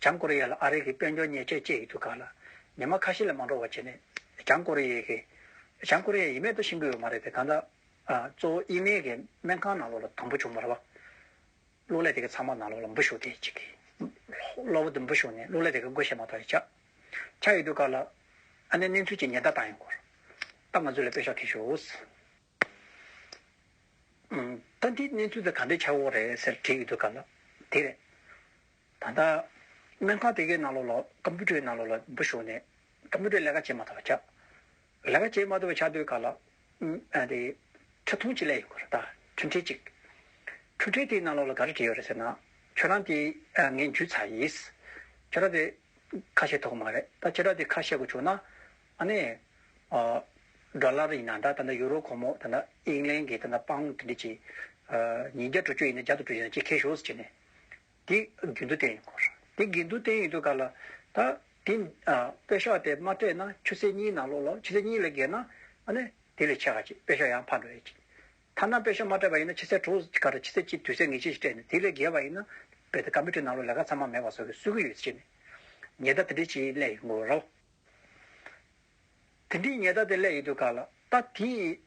བྱང་ཀོ་རི་ཡ་ལ་ཨ་རི་གི་དཔལ་འབྱོར་ཉེས་ཆད་བཅད་ཡོད་འདུག་ག་ལ། ཉི་མ་ཁ་ཤས་ལས་མ་འགྲོ་བ་བྱས་ནས་བྱང་ཀོ་རི་ཡའི་གི། བྱང་ཀོ་རི་ཡའི་ཡི་མེད་དུ་ཕྱིན་དགོས་ཡོད་མ་རེད་དེ་གང་ལྟར། གཙོ་བོ་ཡི་མེད་གི་སྨན་ཁང་ནང་ལོགས་ལ་དང་པོ་བྱུང་མར་བ། གློག་ཀླད་དེ་གི་ཚང་མ་ནང་ལོགས་ལ་འབུ་ཞུགས་ཏེ་ཅིག་གི། གློག་བུ་དེ་འབུ་ཞུགས་ནས་གློག་ཀླད་དེ་གི་སྒོ་ཕྱེ་མ་ཐག་ཡིད་ཆགས། ཆགས་ཡོད་འདུག་ག་ལ། ཨ་ནེ་གནས་ཚུལ་གྱི་ཉེན་བརྡ་བཏང་ཡོད་སྐོར། ད་ང་ཚོས་ལ་དཔེ་ཤོག་ཁེ་ཞུ། ད་འདིའི་གནས་ཚུལ་དེ་ག་འདྲའི་ཆགས་འོང་རེད་ཟེར་དྲིས་ཡོད་འདུག་ག་ལ་དེ་རེད། ད་ལྟ་སྨན་ཁང་དེ་གའི་ནང་ལོགས་ལ་ཀམ་པུ་ཏྲའི་ནང་ལོགས་ལ་འབུ་ཞོག་ནས་ཀམ་པུ་ཏྲའི་ལས་ཀ་བྱེད་མ་ཐུབ་པ་ཆགས། ལས་ཀ་བྱེད་མ་ཐུབ་པ་ཆགས་དུས་ག་ལ་དེ་ཁྲི་སྟོང་གཅིག་ལས་ཡོད་ག་རེད་ད་འཕྲུལ་ཕྲེལ་གཅིག། འཕྲུལ་ཕྲེལ་དེའི་ནང་ལོགས་ལ་ག་རེ་བྲིས་ཡོད་རེད་ཟེར་ན་ཁྱོད་རང་དེ་ངས་འཇུས་ཚར་ཡིས། ཁྱོད་རང་དེ་ཁ་བཤད་ཐུབ་གི་མ་རེད་ད་ཁྱོད་རང་དེ་ཁ་བཤད་དགོས་བྱུང་ན་ཨ་ནེ། སྒྲ་ལར་ཡིན་ན་འདྲ་ད་ནི་ཡུ་རོ་ཁོ་མོ་ད་ནི་དབྱིན་ལན་གྱི་ད་ནི་པང་ཏི་ཏི་ཅི། ཉིན་བརྒྱ་དྲུག་ཅུ་ཡིན་ན་བརྒྱ་དང་དྲུག་ཅུ་ཡིན་ན་ཅི་ཁེ་ཤོས་སུ་བྱས་ནས། དེ་དགེ་འདུན་ཏན་ཡིན་གོ། དེ་དགེ་འདུན་ཏན་ཡིན་དུས་ག་ལ། ད་དེ། དཔེ་ཤོག་དེ་མ་སྤྲད་ན་ཆུ་ཚོད་གཉིས་ནང་ལོག་ལོ་ཆུ་ཚོད་གཉིས་ལས་བརྒལ་ན། ཨ་ནེ། དེ་ལས་ཆེ་ག་ཅིག་དཔེ་ཤོག་ཡང་ཕར་འགྲོ་ཡི་ཅིག། ཐ་ན་དཔེ་ཤོག་མ་སྤྲད་པ་ཡིན་ན་ཆུ་ཚོད་དྲུག་ག་རེ་ཆུ་ཚོད་གཅིག་དུས་ཚོད་ངེས་ཅན་ཞིག་སྤྲད་ནས་དེ་ལས་བརྒལ་བ་ཡིན་ན། དཔེ་དེ་ག་མི་ཁྲུས་ནང་ལོག་ལས་ཀ་ཚང་མ་མེད་པ་བཟོ་གི་གསོད་ཀི་ཡོད་ཅེས་ནས། ཉེ་ད་ཏི་ཏི་ཅིའི་གླད་ཡིན་གོ་རོ། དེ་འདྲའི་ཉེས་བརྡ་དེ་སླད་ཡོད་དུས་ག་ལ་ད་དེ་ཡིན།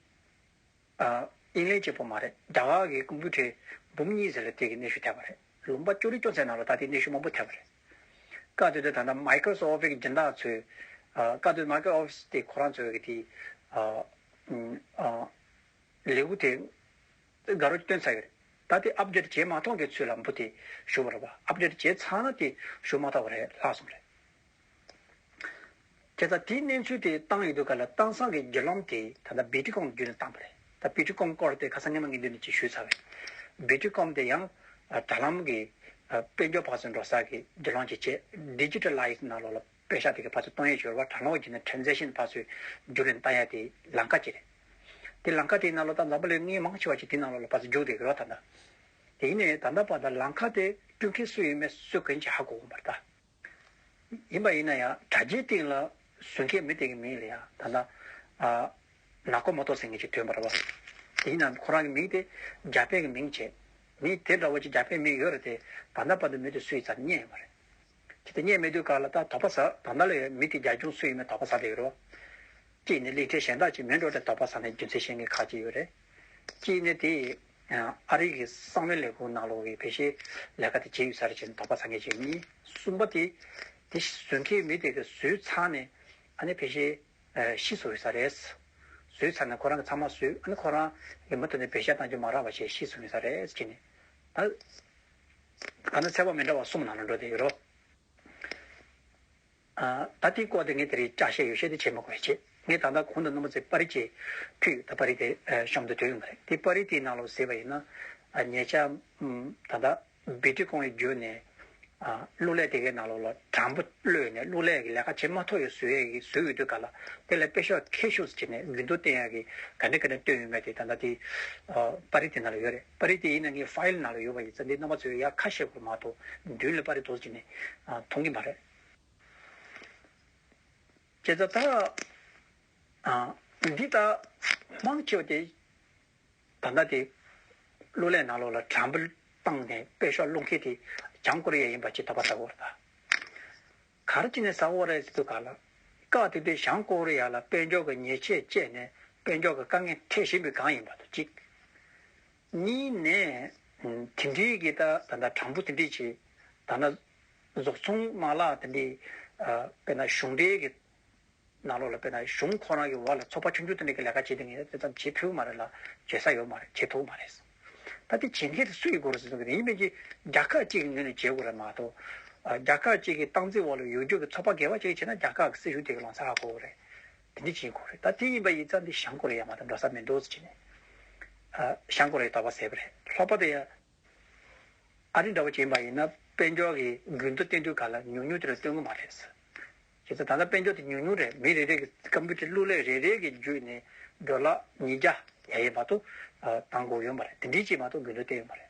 དབྱིན་ལེན་བྱེད་པོ་མ་རེད་རྒྱ་གར་གྱི་ཀུམ་བུ་ཁྲི་འབུམ་གཉིས་ཟེར་ལ་དེ་གི་གནས་ཤུལ་ཐད་པ་རེད་ལུང་པ་ཅོ་རི་ཅོ་ཚའི་ནང་ལ་ད་དེའི་གནས་ཤུལ་མང་པོ་ཐད་པ་རེད། བཀའ་སྡོད་དེ་ད་ལྟ Microsoft Office གི་སྦྱིན་བདག་ཚོས་བཀའ་སྡོད Microsoft Office དེ་ཁོ་རང་ཚོས་དེ་ལེའུ་དེ་དགའ་རོགས་ཀྱི་སྟོན་ཚར་ཡོད་རེད་ད་དེ Update བྱས་མ་མཐོང་གི་ཚུལ་ལ་འབུ་དེ་ཞུ་བ་རེད་བ Update བྱས་ཚར་ན་དེ་ཞུ་མ་ཐག་པ་རེད་ལྷག་སོང་རེད། དེ་ལྟར་དེའི་གནས་ཚུལ་དེ་བཏང་ཡོད་འདུག་ག་ལ་དྭངས་སང་གི་རྒྱུ་ལམ་དེ་ད་ལྟ་བེ་ཀྲི་ཀོམ་བརྒྱུད་ནས་བཏང་བ་རེད་ད་བེ་ཀྲི་ཀོམ་སྐོར་དེ་ཁ་སང་སྙན་མ་ངེས་དོན་ནས་ཅིག་ཞུས་ཚར་བས་བེ་ཀྲི་ཀོམ་དེ་ཡང་དྲ་ལམ་གྱི་དཔལ་འབྱོར་བག་ཟོན་འགྲོ་ས་གི་དགེ་སློང་གྱི་ཆེད Digitalize ནང་ལོགས་ལ་དཔེ་ཤག་དེ་གི་ཕར་ཚུར་གཏོང་ཡས་བྱོས་བ་དྲ་ལོགས་བརྒྱུད་ནས Transaction ཕར་ཚུར་རྒྱུགས་ལེན་བཏང་ཡས་དེ་ལང་ཀ་གཅིག་རེད་དེ་ལང་ཀ་དེའི་ནང་ལོགས་ད་འཛམ་བུ་ལོའི་ལྔའི་མང་ཆེ་བ་ཞིག་དེའི་ནང་ལོགས་ལ་ཕར་ཚུར་རྒྱུགས་བསྡད་ཡོད་རོགས་ད་ད་དེ་ཡིན་ནས་ད་ད་བར་ད་ལང་ཀ་དེ་སྐྲུན་མཁན་སུ་ཡོད་མེད་སུ་གོན་ཆ་གོ་གོ་མ་རེད་ད། ཡིན་པ་ཡིན་ན་ཡང་དྲ་རྒྱའི་སྟེང་ལ་བཟོད་མཁན་མི་དེ་གི་མིང་ལ་ཡང་ད་ལྟ་ནག་སྐོར་མ་ཏོག་སེང་གེ་ཅེས་བཏོན་པར་བ། དེའི་ནང་དུ་ཁོ་རང་གི་མིང་དེ་རྒྱ་དཔེ་གི་མིང་བྱས། མི་དེ་འདྲ་བོ་ཅིག་རྒྱ་དཔེ་མིང་ཡོད་རེད་དེ་བར་མདའ་པ་དུ་མེད་དུ་སུ་ཡི་ཙམ་བརྙེད་ཡོད་པ་རེད། གལ་ཏེ་བརྙེད་མེད་དུས་ག་ལ་ད་དོག་པ་ཟ་བར་མདའ་ལ་ཡོད་མི་དེ་རྒྱ་གཞུང་སུ་ཡིན་མིན་དོག་པ་ཟ་བསྡད་ཡོད་རེད་བ། གཅིག་ནི་གླིང་ཕྲན་གཞན་དག་ཅིག་མིང་འགྲོ་སྟེ་དོག་པ་ཟ་ནས་རྒྱུ་མཚན་བཤད་མཁན་ཁག་ཅིག་ཡོད་རེད། གཅིག་ནི་དེ་ཡི། ཨ་རིག་གི་གསང་བའི་ལས་ཁུངས་ནང་ལོགས་ཀྱི་བེད་ཤེས་ལས་ཀ་དེ་བྱས་ཡོད་ས་རེད་ཅེས་དོགས་པ་ཟ་མཁན་བྱས་མིན་གསུངས་པ་དེ། དེ་བཟོས་མཁན་མི་དེ་གི་བཟོས་ཚར་ནས་ཨ་ནི་བེད་ཤེས་ཤི་སོང་ཡོད་ས་རེད། བཟོས་ཚར་ནས་ཁོ་རང་གི་ཚང་མ་བཟོས་ཨ་ནི་ཁོ་རང་གི་མུ་མཐུད་ནས་བེད་ཤ་གཏང་རྒྱུ་མ་རག་པ་བྱས་ཤི་སོང་ཡོད་ས་རེད་ཅེས་ནས། ད་ག་ནི་ཚད་པ་མི་འདྲ་བ་གསུམ་ནང་ལ་འགྲོ་བསྡད་ཡོད་རོ། ད་དེའི་སྐོར་དེ་ངས་དེ་རིང་སྐྱར་བཤད་ཡོ་བྱད་དེ་བྱེད་མི་དགོས་ཆེད། ངས་ད་ལྟ་གོང་དུ་ནོར་མོ་ཙེ་པར་རིས་ཀྱི་ཕུད་ད་པར་རིས་དེ་གཤོམ་དུ་དོད་ཡོང་གི་རེད། དེ་པར་རིས་དེའི་ནང་ལོགས་ཟེར་བ་ཡིན་ན། ཉེ་ཆར། ད་ལྟ། བི་ཏི་ཀོང་ཡི་རྒྱུད་ནས། གླུ་ལས་དེ་གའི་ནང་ལོགས་ལ་དྲང་པོ་གློད་ནས་གླུ་ལས་ཀྱི་ལས་ཀ་བྱེད་མ་ཐུབ་ཡོད་བཟོས་ཡས་ཀྱི་བཟོས་ཡོད་དུས་ག་ལ། དེ་ལ་དཔེ་ཤོག་མཁས་ཤོས་སུ་བྱས་ནས་རྒྱུན་དུ་བསྟན་ཡས་ཀྱི་ག་འདྲ་ག་འདྲ་བཏོན་ཡོད་མེད་དེ་ད་ལྟ་དེའི། པར་རིས་དེ་ནང་ལ་ཡོད་རེད། པར་རིས་དེ་ཡིན་ན་ངའི་ཕཱ་ཡེལ་ནང་ལ་ཡོད་པ་ཡིན་ཙང་འདི་རྣམ་པ་ཚོས་ཡར་ཁ་ཤས་གོ་མ་ཐུབ་མདུན་ལ་པར་རིས་དོར་བྱས་ནས། མཐོང་གི་མ་རེད། ཅེས་བྱ་བ་དང། འདི་དག་མང་ཆེ་བ་དེ་ད་ལྟ་དེ་གླུ་ལེན་ནང་ལོགས་ལ་དྲ་འབུ་བཏང་ནས་དཔེ་ཤོག་བླུ་མཁན་དེ་བྱང་ཀོ་རི་ཡ་ཡིན་པ་ཅིག་ད་བར་ཟ་ཧོར་ད་གར་ཅི་ནས་ཟ་ཧོར་རེད་ཟེར་དུས་ག་ལ་སྐབས་དེ་དུས་བྱང་ཀོ་རི་ཡ་ལ་དཔེ་འཇོག་གི་ཉེས་ཆད་བཅད་ནས་དཔེ་འཇོག་གི་དཀའ་ངལ་འཕྲད་བཞིན་པའི་སྒང་ཡིན་པ་དང་གཅིག། གཉིས་ནས། དེ་འབྲེལ་གྱི་ད་ལྟ་གྲངས་འབོར་དེ་འབྲེལ་གྱི་ད་ལྟ་རྫོགས་ཚོང་མ་ལག་དེ་འདྲས་དཔེར་ན་གཞུང་འབྲེལ་གྱི་ནང་ལོགས་ལ་དཔེར་ན་གཞུང་ཁོ་རང་གི་འོག་ལ་ཚོགས་པ་ཆུང་ཆུང་དེ་འདྲས་ཀྱི་ལས་ཀ་བྱེད་དེ་ངས་དེ་ཙམ་བྱེད་ཕོད་ཀྱི་མ་རེད་ལ་བྱེད་ས་ཡོད་མ་རེད་བྱེད་ཐུབ་མ་རེད། ད་དེ་བྱེད་མཁན་དེ་སུ་ཡི་སྒོ་རུ་བཟུང་གི་རེད་ཡིན་ཕན་ཆད་རྒྱ་ཁག་གཅིག་གི་ངོས་ནས་བྱེད་དགོས་རེད་མ་གཏོགས། རྒྱ་ཁག་གཅིག་གི་སྟངས་འཛིན་འོག་ལ་ཡོད་རྒྱུ་གི་ཚོགས་པ་འགལ་བ་གཅིག་བྱས་ན་རྒྱ་ཁག་གི་སྲིད་གཞུང་དེ་ག་ལོང་ཚ་ག་གོ་གི་རེད། དེ་འདི་བྱེད་དགོས་རེད་ད་དེ་ཡིན་པ་ཡིན་ཙང་འདི་བྱང་ཀོ་རེ་ཡ་མ་ད་འགྲོ་ས་མེད་འགྲོ་ཟེར་གྱིན་ནས། བྱང་ཀོ་རེ་ད་བ་ཟེར་བ་རེད་ལྷག་པ་དེ་ཡང། ཨ་རི་འདྲ་བ་བྱེད་མ་ཡིན་ན་དཔལ་འབྱོར་གྱི་འགུལ་མདོ་བསྟན་དུས་ག་ལ་ཉུང་ཉུང་དེ་རུ་སྟོན་གི་མ་རེད་ཟེར། ཁྱེད་ཚོ་ད་ལྟ་དཔལ་འབྱོར་དེ་ཉུང་ཉུང་རེད་མི་རེ་རེ་གི་ཀམ་པུ་ཏེར་གླུ་ལེན་རེ་རེ་གི་བརྒྱུད་ནས་འགྲོ་ལ་ཉིས་བརྒྱ་ཡ་ཡས་མ་ཏོ་ད་འགོག་ཡོད་མ་རེད་དེ་འདི་བྱེད་མ་ཏོ་འགུལ་མདོ་བསྟན་ཡོད་མ་རེད།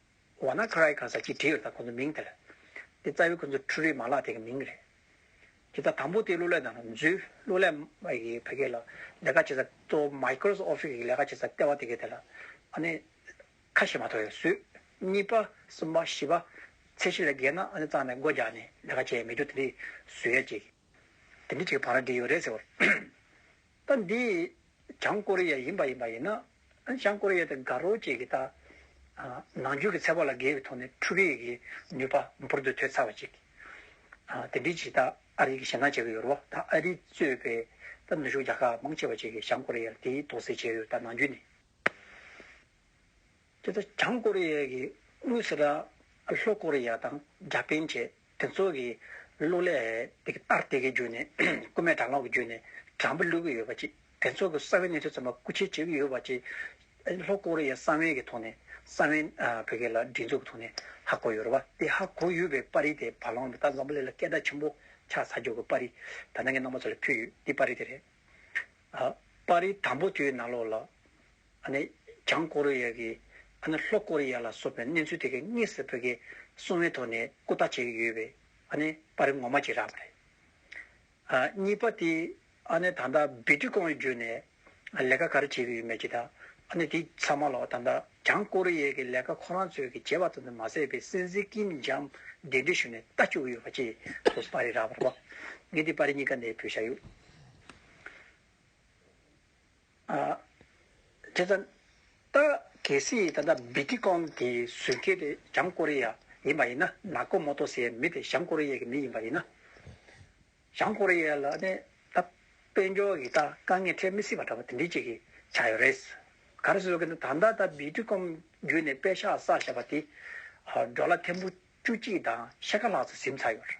འོ་ན་ཁ་རའི་གང་ཟག་གཅིག་བྲིས་ཡོད་ད་ཁོང་ཚོ་མིང་དེར། དེ་རྩ་བའི་ཁོང་ཚོའི་འཕྲུལ་རིག་མ་ལག་དེ་གི་མིང་རེད། དེ་ད་དང་པོ་དེ་གླུ་ལེན་དང་རུང་ཚུལ་གླུ་ལེན་མ་ཡི་གེ་ཕ་གི་ལ་ལས་ཀ་བྱེད་ས་གཙོ་བོ Microsoft Office གི་ལས་ཀ་བྱེད་ས་ལྟེ་བ་དེ་གི་དེ་ལ་ཨ་ནི་ཁ་ཞེ་མ་ཐོ་ཡོད་སུས་གཉིས་པ་གསུམ་པ་བཞི་པ་ཚེ་བཞི་ལས་བརྒལ་ན་ཨ་ནི་གཙང་ནས་སྒོ་རྒྱག་ནས་ལས་ཀ་བྱེད་ཡས་མེད་རྒྱུ་དེ་འདི་སུས་ཡས་བྱེད། དེ་འདི་ཅིག་བང་ར་འདི་ཡོད་རེད་ཟེར་བར། ད་འདི་བྱང་ཀོ་རི་ཡ་ཡིན་པ་ཡིན་པ་ཡིན་ན། བྱང་ཀོ་རི་ཡ་དེ་དགའ་རོགས་བཅས་ཀྱིས་ད། ནང་ཆོས་ཀྱི་ཚད་པ་ལ་འགལ་བའི་ཐོག་ནས་འཕྲུལ་རིག་གི་ནུས་པ་འབུར་དུ་ཐོན་ཚར་བ་ཅིག། དེ་འདྲའི་ཆེད་ད་ཨ་རི་གི་ཞེ་སྣང་བྱེད་ཀྱི་ཡོད་རེད་བ། ད་ཨ་རིས་གཙོས་པའི་ད་ནུ་ཞོ་རྒྱ་ཁག་མང་ཆེ་བ་བཅས་ཀྱིས་བྱང་ཀོ་རི་ཡར་དེའི་དོགས་སེལ་བྱས་ཡོད་ད་ནང་རྒྱུན་ནས། དེ་ལྟར་བྱང་ཀོ་རེ་ཡའི་དབུས་སུ་ར་ལྷོ་ཀོ་རེ་ཡ་དང་རྒྱ་པན་བཅས་དེ་ཚོ་གི་གླུ་ལས་དེ་གི་ལྟར་དེ་གི་རྒྱུད་ནས་རྐུན་མའི་དྲ་ལོག་གི་རྒྱུད་ནས་དྲ་འབུ་གླུད་གི་ཡོད་པ་བཅས་དེ་ཚོ་གི་ས་བོན་གནས་ཚུལ་ཙམ་པ་རྐུ་འཁྱེར་བྱེད་གི་ཡོད་པ་བཅས་ལྷོ་ཀོ་རེ་ཡའི་ས་བོན་གི་ཐོག་ནས་ས་བོན་བོད་སྐད་ལ་སྒྲིག་འཛུགས་ཀི་ཐོག་ནས་ཧ་གོ་ཡོད་རེད་བ། དེ་ཧ་གོ་ཡོད་པའི་པར་རིས་དེ་བ་ལང་བ་ཏག་འཛམ་བུ་གླིང་ལ་སྐད་གྲགས་ཆེན་པོ་ཆགས་ཚར་རྒྱུ་གི་པར་རིས་ད་ནང་གི་ནང་པ་ཚོ་ལ་ཕུལ་ཡོད་དེ་པར་རིས་དེ་རེད། པར་རིས་དང་པོ་དེའི་ནང་ལོགས་ལ། ཨ་ནི་བྱང་ཀོ་རི་ཡ་གིས་ཨ་ནི་ལྷོ་ཀོ་རི་ཡ་ལ་སོགས་པའི་གནས་ཚུལ་དེ་གའི་དངོས་སུ་བོད་ཀྱི་སྲུང་བའི་ཐོག་ནས་སྐུ་བལྟ་བྱེད་ཀྱི་ཡོད་པས་ཨ་ནི་པར་རིས་ངོ་མ་བྱེད་རག་པ་རེད། གཉིས་པ་དེ་ཨ་ནི་ད་ལྟ་སྦི་ཏི་ཀོང་ཡི་རྒྱུད་ནས་ལས་ཀ་ག་རེ་བྱེད་ཀྱི་ཡོད་མེད་ཀྱི་དང་ཨ་ནི་དེ་ཚང་མ་ལ་ད་ལྟ་བྱང་ཀོ་རི་ཡའི་གི་ལས་ཀ་ཁོ་རང་ཚོས་གི་བྱེད་པ་ཙམ་དུ་མ་ཟད་པའི་སྲིད་འཛིན་ཀིམ་ཇང་འདི་འདྲའི་ཞུ་ནས་བལྟ་བཅུག་གི་ཡོད་པ་བཅས་སོ་སོ་པར་རིས་རག་པར་བ། ངས་དེ་པར་རིས་གཉིས་ཀ་ནས་བོད་ཤ་ཡུལ། དེ་ད་ལྟ་གལ་སྲིད་ད་ལྟ་བི་ཏི་ཀོན་དེ་ཟུར་བཀལ་དེ་བྱང་ཀོ་རི་ཡ་ཡིན་པ་ཡིན་ན་ནག་པོ་མོ་ཏོ་ཟེར་བའི་མི་དེ་བྱང་ཀོ་རི་ཡའི་མི་ཡིན་པ་ཡིན་ན། བྱང་ཀོ་རི་ཡ་ལ་ནི་ད་དཔལ་འབྱོར་གྱི་ད་དཀའ་ངལ་འཕྲད་མི་སྲིད་པ་འདྲ་བོ་དེ་འདྲས་ཅིག་གི་ཆགས་ཡོད་རེད། ག་རེ་བཟོ་གི་འདུག་ད་ལྟ་ད་བི་ཏི་ཀོན་བརྒྱུད་ནས་དཔལ་ཤ་ཟ་བྱས་པ་དེ་འགྲོ་ལ་ཐེར་འབུ་བཅུ་གཅིག་དང་ཕྱེད་ཀ་ལྷག་ཙམ་གཟིམ་ཚར་ཡོད་རེད།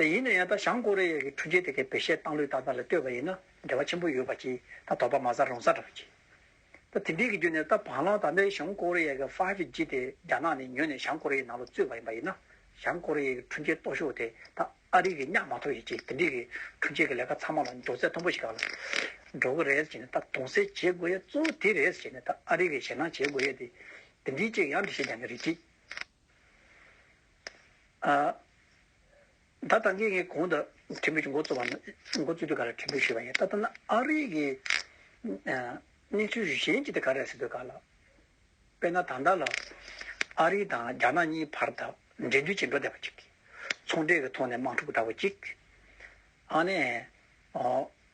ད་ཡིན་ན་ཡང་ད་བྱང་ཀོ་རེ་ཡ་གི་འཕྲུལ་ཆས་དེ་གའི་བེ་ཤའི་སྟངས་ལུགས་ལྟར་ད་ལ་ལྟོས་པ་ཡིན་ན་འབྲེལ་བ་ཆེན་པོ་ཡོད་པ་གྱིས་ད་དོགས་པ་མ་ཟ་རུང་ཟ་འདྲ་བ་གྱིས། ད་དེ་འདྲའི་གི་རྒྱུ་ནས་ད་བ་ལང་ད་ལྟའི་བྱང་ཀོ་རེ་ཡ་གི Five G དེ་རྒྱ་ནག་ནས་ཉོས་ནས་བྱང་ཀོ་རེ་ཡའི་ནང་ལ་བཙུད་པ་ཡིན་པ་ཡིན་ན་བྱང་ཀོ་རེ་ཡ་གི་འཕྲུལ་ཆས་སྟོགས་ཤོག་དེ་ད་ཨ་རི་གིས་གཉའ་མ་ཐོབ་ཡོད་གྱིས་དེ་འདྲའི་གི་འཕྲུལ་ཆས་གི་ལས་ཀ་ཚང་མ་ལ་འགྲོ་ཚད་མཐོན་པོ་ཞིག་ག་ལ་འགྲོ་གི་རེད་ཅེས་ནས་ད་དུང་སེལ་བྱེད་དགོས་ཡ་གཙོ་བོ་དེ་རེད་ཅེས་ནས་ད་ཨ་རི་གིས་ཞེད་སྣང་བྱེད་དགོས་ཡ་དེ་དེ་འདྲའི་ཅིག་ཡང་འདྲི་ཤེས་རྒྱ་ནི་རེད་གྱིས། ད་ལྟ་ངས་ངའི་གོང་དུ་ཁྲིམས་དཔོན་གྱི་མགོ་བཙུགས་པ་ནི་མགོ་བཙུགས་དུས་ག་ལ་ཁྲིམས་དཔོན་ཞུས་པ་ཡིན་ད་ལྟ་ན་ཨ་རིའི་གི་གནས་ཚུལ་གཞན་གྱི་དེ་ག་རེད་ཟེར་དུས་ག་ལ། དཔེར་ན་ད་ལྟ་ལ་ཨ་རི་དང་རྒྱ་ནག་གཉིས་བར་དུ་འབྲེལ་མཐུད་བྱེད་འགྲོ་བསྡད་པ་ཅིག་གིས་ཚོང་འབྲེལ་གྱི་ཐོག་ནས་དམག་འཁྲུག་འདྲ་བོ་ཅིག་ཨ་ནས་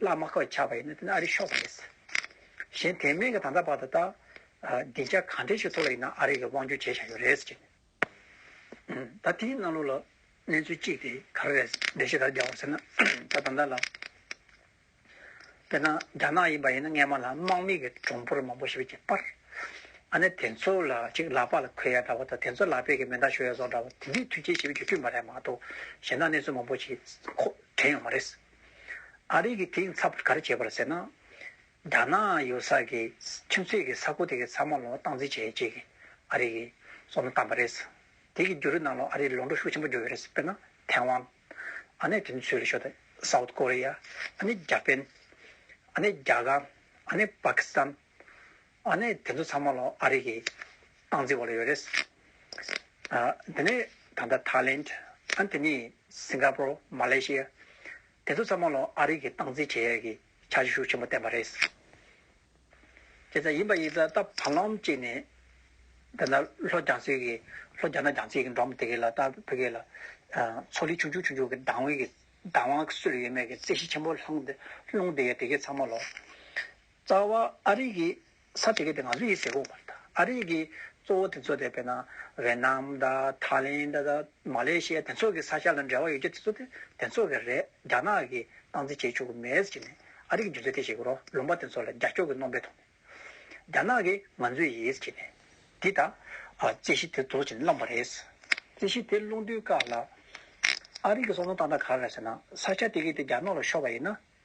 བླ་མ་ཁོ་ཆགས་པ་ཡིན་ན་དེ་ནི་ཨ་རིའི་ཤོག་པ་རེད། གཞན་དེ་མིན་གྱི་ད་ལྟ་བར་དུ་ད། སྡིངས་ཆ་གང་དྲན་ཞིག་ཐོག་ལ་ཡིན་ན་ཨ་རི་གི་དབང་བསྒྱུར་བྱས་བཞག་ཡོད་རེད། ད་དེའི་གནང་ལུགས་ལ་གནས་ཚུལ་གཅིག་དེ་ག་རེ་རེད་འགྲེལ་བཤད་ག་རེ་རྒྱག་འོང་ཟེར་ན། ད་ད་ལྟ་ལ། དཔེར་ན་རྒྱ་ནག་ཡིན་པ་ཡིན་ན་སྔས་མ་ལ་དམག་མི་གི་གྲོང་འབོར་མང་པོ་ཞིག་བརྒྱབ་པར། ཨ་ནི་དེ་ཚོ་ལ་ཅིག་ལག་པ་ལ་འཁོལ་ཡ་འདྲ་བོ་དང་དེ་ཚོ་ལག་པས་ཀྱི་མེ་མདའ་ཞོ་ཡ་བཟོ་འདྲ་བོ་དེ་འདྲའི་དུས་ཆེན་ཞིག་བརྒྱུད་བསྐྲུན་པ་རེད་མ་གཏོགས་གཞན་དག་གནས་ཚུལ་མང་པོ་ཞིག་ཁོ་དྲན་ཡོང་མ་རེད། ཨ་རིག་གི་དེའི་ཚབ་ག་རེ་བྱས་པར་ཟེར་ན། རྒྱ་ནག་ཡོད་ས་གི་ཁྱིམ་མཚེས་ཀྱི་ས་ཁུལ་དེ་གའི་ཚང་མ་ལོ་སྟངས་འཛིན་བྱེད་ཅེས་ཀྱི་ཨ་རིག་གིས་བསོད་ནམས་བཏང་བ་རེད། དེ་གི་རྒྱུ་རུ་ནང་ལོ་ཨ་རིར་ལོ་འགྲོ་ཤུགས་ཆེན་པོ་རྒྱོ་ཡོད་རེད་དཔེར་ན་ཐེ་ཝན། ཨ་ནེ་དེ་ནི་ཚུལ་ཤོ་ཏི། South Korea། ཨ་ནེ་རྒྱ་པན། ཨ་ནེ་རྒྱ་གར། ཨ་ནེ་པཱ་ཀི་སི་ཐན། ཨ་ནི་དེ་ཚོ་ཚང་མ་ལོ་ཨ་རི་གི་སྟངས་འཛིན་བ་ལོ་ཡོད་རེད། དེ་ནི་ད་ལྟ Thailand ཨ་དེ་ནི Singapore Malaysia དེ་ཚོ་ཚང་མ་ལོ་ཨ་རི་གི་སྟངས་འཛིན་བྱེད་ཡས་ཀྱི་བྱ་བྱེད་ཤུགས་ཆེན་པོ་བསྟན་པ་རེད། ཁྱེད་ཚ་ཡིན་པ་ཡིན་ཚ་ད་བར་ལམ་གཅིག་ནས་དེ་ལྟར་ལྷོ་རྒྱང་སེར་གྱི་ལྷོ་རྒྱ་ནག་རྒྱང་སེར་གྱི་འགྲོ་མ་དེ་གས་ལ་ད་བོད་གས་ལ་མཚོ་ལི་ཆུང་ཆུང་ཆུང་ཆུང་གི་སྡང་བའི་སྡང་བ་སུ་ལ་ཡོད་མེད་ཀྱི་རྩད་གཞི་ཆེན་པོ་སློང་བསྡད་ཡོད་དེ་གས་ཚང་མ་ལོ། རྩ་བ་ཨ་རིག་གི་ས་དེ་ག་དེ་ང་ཚོ་ཡི་ཟེ་གོ་བར་ཐག་ཨ་རིག་གི་གཙོ་བོ་དེ་ཚོ་དེ་བེ་ན་ཝེ་ནམ་ད་ཐཱ་ལེན་ད་ད་མ་ལེ་ཤི་ཡ་དེ་ཚོ་གི་ས་ཤ་ལ་འབྲེལ་བ་ཡོད་རྒྱུ་དེ་ཚོ་དེ་དེ་ཚོ་གི་རེད་རྒྱ་ནག་གི་སྟངས་འཛིན་བྱེད་ཆོག་གི་མེད་ཟེར་གྱི་ནས་ཨ་རིག་གི་རྒྱུ་མཚན་དེ་ཤེས་དགོས་རོགས་ལུང་པ་དེ་ཚོ་ལ་རྒྱ་སྐྱོག་གི་རྣོ་འབེ་ཐོག་ནས་རྒྱ་ནག་གི་ང་ཚོ་ཡི་ཟེར་གྱི་ནས་དེ་ད་རྩེ་གཞི་དེ་རྫོགས་བྱེད་ནས་བླངས་པ་རེད། རྩེ་གཞི་དེ་སློང་དུས་སྐབས་ལ་ཨ་རིག་གི་སོ་སོ་སྟངས་ད་ག་རེད་ཟེར་ན་ས་ཤ་དེ་གི་དེ་རྒྱ་ནག་ལ་ཤོར་བ་ཡི་ན་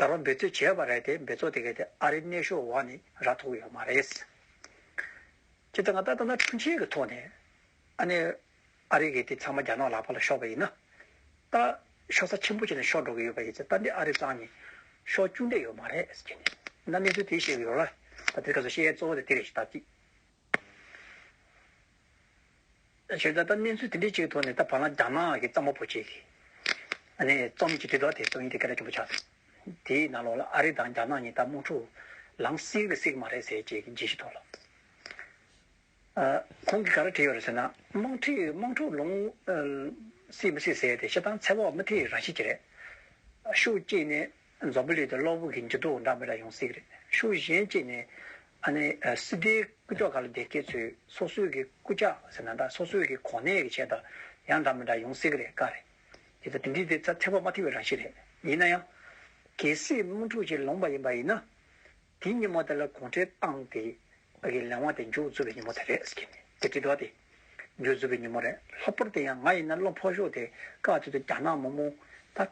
འགར་བ་འབད་རྩོད་བྱས་པ་རེད་དེ་འབད་རྩོད་དེ་གས་དེ་ཨ་རིའི་གནས་ཤོག་འོག་ནས་ར་ཐོག་ཡོད་མ་རེད། ཁྱེད་ཚང་ལྟ་ན་ཁྲིམས་ཆད་ཀྱི་ཐོག་ནས་ཨ་ནེ་ཨ་རི་གས་དེ་ཚང་མ་རྒྱ་ནག་ལག་པ་ལ་ཤོག་པ་ཡིན་ན། ད་ཤོག་ས་ཆེན་པོ་བྱས་ནས་ཤོག་འགྲོ་གི་ཡོད་པ་ཡིན་ཚེ་ད་འདི་ཨ་རི་ཚང་ནས་ཤོག་བཅུག་འདོད་ཡོད་མ་རེད། ད་གནས་ཚུལ་དེ་ཤེས་གི་ཡོད་ར། ད་དེ་སྐབས་སུ་བཤད་ཡས་གཙོ་བོ་དེ་དེ་རེད་ཞེས་ལྟ་ཅི། ཞེས་བྱ་བ་ལྟར་གནས་ཚུལ་དེ་འདྲའི་ཆེད་དུ་ནི་ད་བར་ན་རྒྱ་ནག་གི་གཙང་པོ་བོད་ཅེས་ནི་རྩོམ་གྱི་དྲིལ་སྒྲོག་དེ་སོ་ཡིན་ཏེ་སྐད་སྒྲ་ཆེན་པོ་ཆགས་སོང། དེའི་ནང་ལོགས་ལ་ཨ་རི་དང་རྒྱ་ནག་གཉིས་ད་དམག་འཁྲུག་ལམ་བསྲིངས་རེད་བསྲིངས་མ་རེད་ཟེར་ཅེས་ཀྱི་རྗེས་གཞི་ཐོག་ལ། ཁོང་གིས་ག་རེ་བྲིས་ཡོད་རེད་ཟེར་ན། དམག་འཁྲུག་དམག་འཁྲུག་ལོང་བསྲིངས་མི་སྲིད་ཟེར་ཏེ་ཤི་སྟངས་ཚད་དཔག་མི་ཐེག་རང་བཞིན་གྱི་རེད། ཤུགས་བསྐྱེད་ནས་འཛམ་བུ་གླིང་དུ་གློག་འབུག་གི་འགྱུར་ལྡོག་འདྲ་མི་འདྲ་ཡོང་སྲིད། ཤུགས་གཞན་གཅིག་ནས། ཨ་ནི། སྲིད་སྡེའི་སྐུ་ཕྱོགས་ཁག་ལ་བདེ་སྐྱིད་ཚོས་སོ་སོའི་གི་སྐུ་ཕྱག་ཟེར་ན་འདྲ་སོ་སོའི་གི་གོ་གནས་ཀྱི་ཆེད་དུ་ཡང་འདྲ་མི་འདྲ་ཡོང་སྲིད་གི་རེད་དཀའ་རེད། དེ་ལྟ་དེ་འདྲའི་དེ་ཚ་ཚད་བག་མ་ཐེག་པའི་རང་བཞིན་རེད། ཡིན་ན་ཡང། གལ་སྲིད་དམག་འཁྲུག་ཅིག་ལོངས་པ་ཡིན་པ་ཡིན་ན། དེའི་ཉིན་མོ་དེ་ལ་གུང་ཁྲན་ཏང་དེ། གི་ལས་དབང་དེ་མཇུག་རྫོགས་པའི་ཉིན་མོ་དེ་རེད་ཟེར་གྱི་ནི་དེ་དྲི་དོགས་ཏེ། མཇུག་རྫོགས་པའི་ཉིན་མོ་རེད་ལྷག་པར་དེ་ཡང་ང་ཡིན་ན་བློ་ཕོག་ཤོག་དེ་སྐབས་དེ་དུ་རྒྱ་ནག་མ་མོ། ད།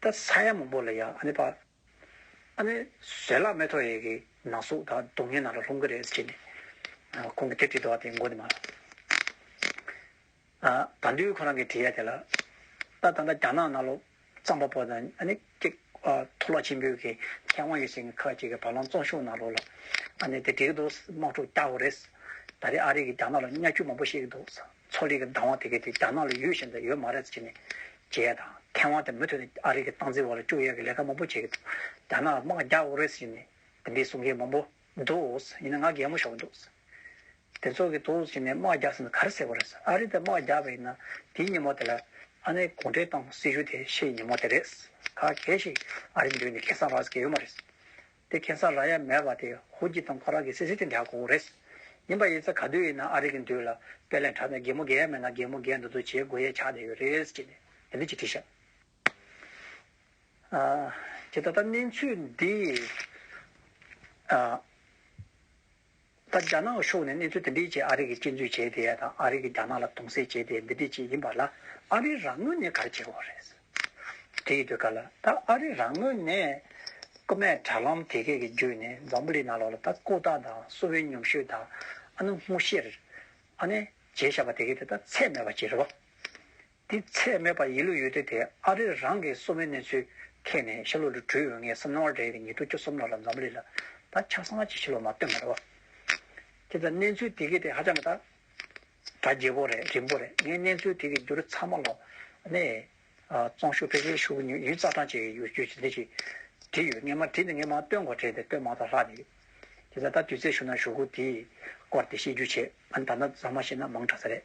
ད་ས་ཡ་མང་པོ་ལ་ཡང་ཨ་ནེ་པ། ཨ་ནེ་བཟོད་གླགས་མེ་ཐོག་ཡེ་གི་ནང་སོག་ད་སྡུག་བསྔལ་ནང་ལ་ལྷུང་གི་རེད་ཟེར་གྱི་འདུག་ཁོང་གི་དེབ་ཅིག་འདུག་བ་དེ་མགོ་ནས་མ་བདའ་འདུག་ཁོ་རང་གི་དེ་ཡ་དེ་ལ་ད་ད་ད་རྒྱ་ནག་ནང་ལོ་རྩམ་པ་པོ་དང་ཨ་ནེ་ཀྱེ་མཐོ་སློབ་ཆེན་པོའི་གི་མཁས་དབང་ཡོད་བཞིན་གི་ཁག་ཅིག་གི་བ་ལང་བཙོང་ཤུགས་ནང་ལོག་ལ་ཨ་ནེ་དེ་འགྲིག་གི་འདུག་དམག་འཁྲུག་རྒྱག་གི་རེད་ཟེར་ད་རེ་ཨ་རི་གི་རྒྱ་ནག་ལ་གཉའ་ཁྱུ་མང་པོ་བཤིག་གི་འདུག་ཟེར། མཚོ་ལས་ཀྱི་བདག་དབང་དེ་གའི་དེ་རྒྱ་ནག་ལ་ཡོད་བཞིན་དུ་ཡོད་མ་རེད་ཟེར་གྱི་ནས། ཇའི་དང། མཁས་དབང་དེ་མུ་མཐུད་དུ་ཨ་རིའི་གྱི་སྟངས་འཛིན་བར་ལ་བཅུག་ཡས་ཀྱི་ལས་ཀ་མང་པོ་བྱས་ཀྱི་འདུག་རྒྱ་ནག་ལ་དམག་རྒྱག་དགོས་རེད་ཟེར་གྱི་ནས། དེ་འདྲའི་གསུང་མཁན་མང་པོ། འདུག། ཡིན་ན་ང་གད་མོ་ཤོར་གྱི་འདུག། དེ་ཚོ་གྱི་འདུག་ཟེར་གྱི་ནས་དམག་རྒྱག་ཟེར་ན་ག་རེ་ཟེར་བ་རེད། ཨ་རི་དེ་དམག་རྒྱག་པ་ཡིན་ན། དེའི་ཉིན་མོ་དེ་ལ། ཨ་ནེ་གུང་ཁྲན་ཏང་སྲིད་གཞུང་དེ་ཤེས་ཀྱི་ཉིན་མོ་དེ་རེད། ག་གེ་ཞིག་ཨ་རི་འདུས་ནས་ཁེ་བཟང་རག་ཟེར་གྱི་ཡོད་མ་རེད། དེ་གེ་སར་ར་ཡ་མེད་པ་དེ་ཧོར་གྱི་དང་ཁོ་རང་གི་སེ་སེ་དེ་འདྲ་གོ་རེད། ཡིན་པ་ཡིན་ཚ་ག་དུས་ཡིན་ན་ཨ་རིག་གི་འདུས་ལ་དཔེ་ལས་འཕྲ་ན་རྒན་མོ་རྒན་ཡ་མེད་ན་རྒན་མོ་རྒན་འདུ་འདུ་བྱེད་དགོས་ཡས་ཆགས་བསྡད་ཡོད་རེད་ཅེས་ནས་དེ་འདྲ་ཅིག་བྲིས་ཤག་ཨ། ཅེས་ད་ལྟ་གནས་ཚུལ་འདི་ཨ། ད་རྒྱ་ནག་གི་ཕྱོགས་ནས་གནས་ཚུལ་དེ་འདྲའི་ཆེད་ཨ་རི་གིས་གཅེས་འཛུལ་བྱས་དེ་དང་ཨ་རི་གིས་རྒྱ་ནག་ལ་དུང་སེལ་བྱས་དེ་འདི་འདྲའི་ཆེད་ཡིན་པ་ལ་ཨ་རི་རང་ངོས་ནས་ག་རེ་བྱེད་དགོས་རེད། དེ་ཡི་དུས་སྐབས་ལ་ད་ཨ་རི་རང་ངོས་ནས་རྐུན་མས་དྲ་ལམ་དེ་གས་ཀྱི་བརྒྱུད་ནས་འཛམ་བུ་གླིང་ནང་ལོག་ལ་ད་ཀོ་ཏག་དང་སུ་བན་ཉུང་ཤོས་དང་ཨ་ནུ་སྔོ་ཤེར། ཨ་ནེ། རྗེས་བཞག་པ་དེ་གས་དེ་ད་ཚད་མེད་པ་བྱེད་རོགས། དེ་ཚད་མེད་པར་ཡིད་ལུས་ཡོད་དུས་དེ་ཨ་རིར་རང་གི་གསོ་བའི་གནས་ཚུལ་མཁྱེན་ནས་ཤར་ལྷོ་རུ་བྲོས་འོས་ངེས་བསམ་སྣང་བ་འདྲ་ཡོད་ཀྱི་ཉེ་དུ་ཁྱོད་གསུམ་ལ་ལ་འཛམ་བུ་གླིང་ལ་ད་ཆ་གསང་བ་ཅི་ཞིག་ལོ་མ་སྟོན་པར་རོ། ཁྱེད་ལ་གནས་ཚུལ་དེ་གས་དེ་ཧ་ཅང་གི་ད། གྲ་རྒྱས་པོ་རེད་རིང་པོ་རེད་ངས་གནས་ཚུལ་དེ་གས་འགྱུར་ཚར་མ་ལོ། ནས། ཙོང་ཤུ་ཕེ་ཁེའི་ཤུ་གུ་ཉུ་ཡུས་རྩ་གྲངས་བཅས་ཀྱི་ཡོ་བཅུད་ཅིག་འདི་ཞིག་བྲིས་ཡོད་ངས་མ་བྲིས་ན་ངས་མ་སྟོན་གོ་བྲིས་ཏེ་སྟོན་མང་དག་ལྷག་ནས་ཡོད། ཁྱེད་ལ་ད་དུས་ཚོད་ཞུགས་ན་ཞུ་གུ་དེའི་སྐོར་དེ་ཤེས་རྒྱུ་བྱེད་ཨ་ནི་ད་ནས་བཟང་མ་ཤེས་ན་མང་དྲགས་ས་རེད།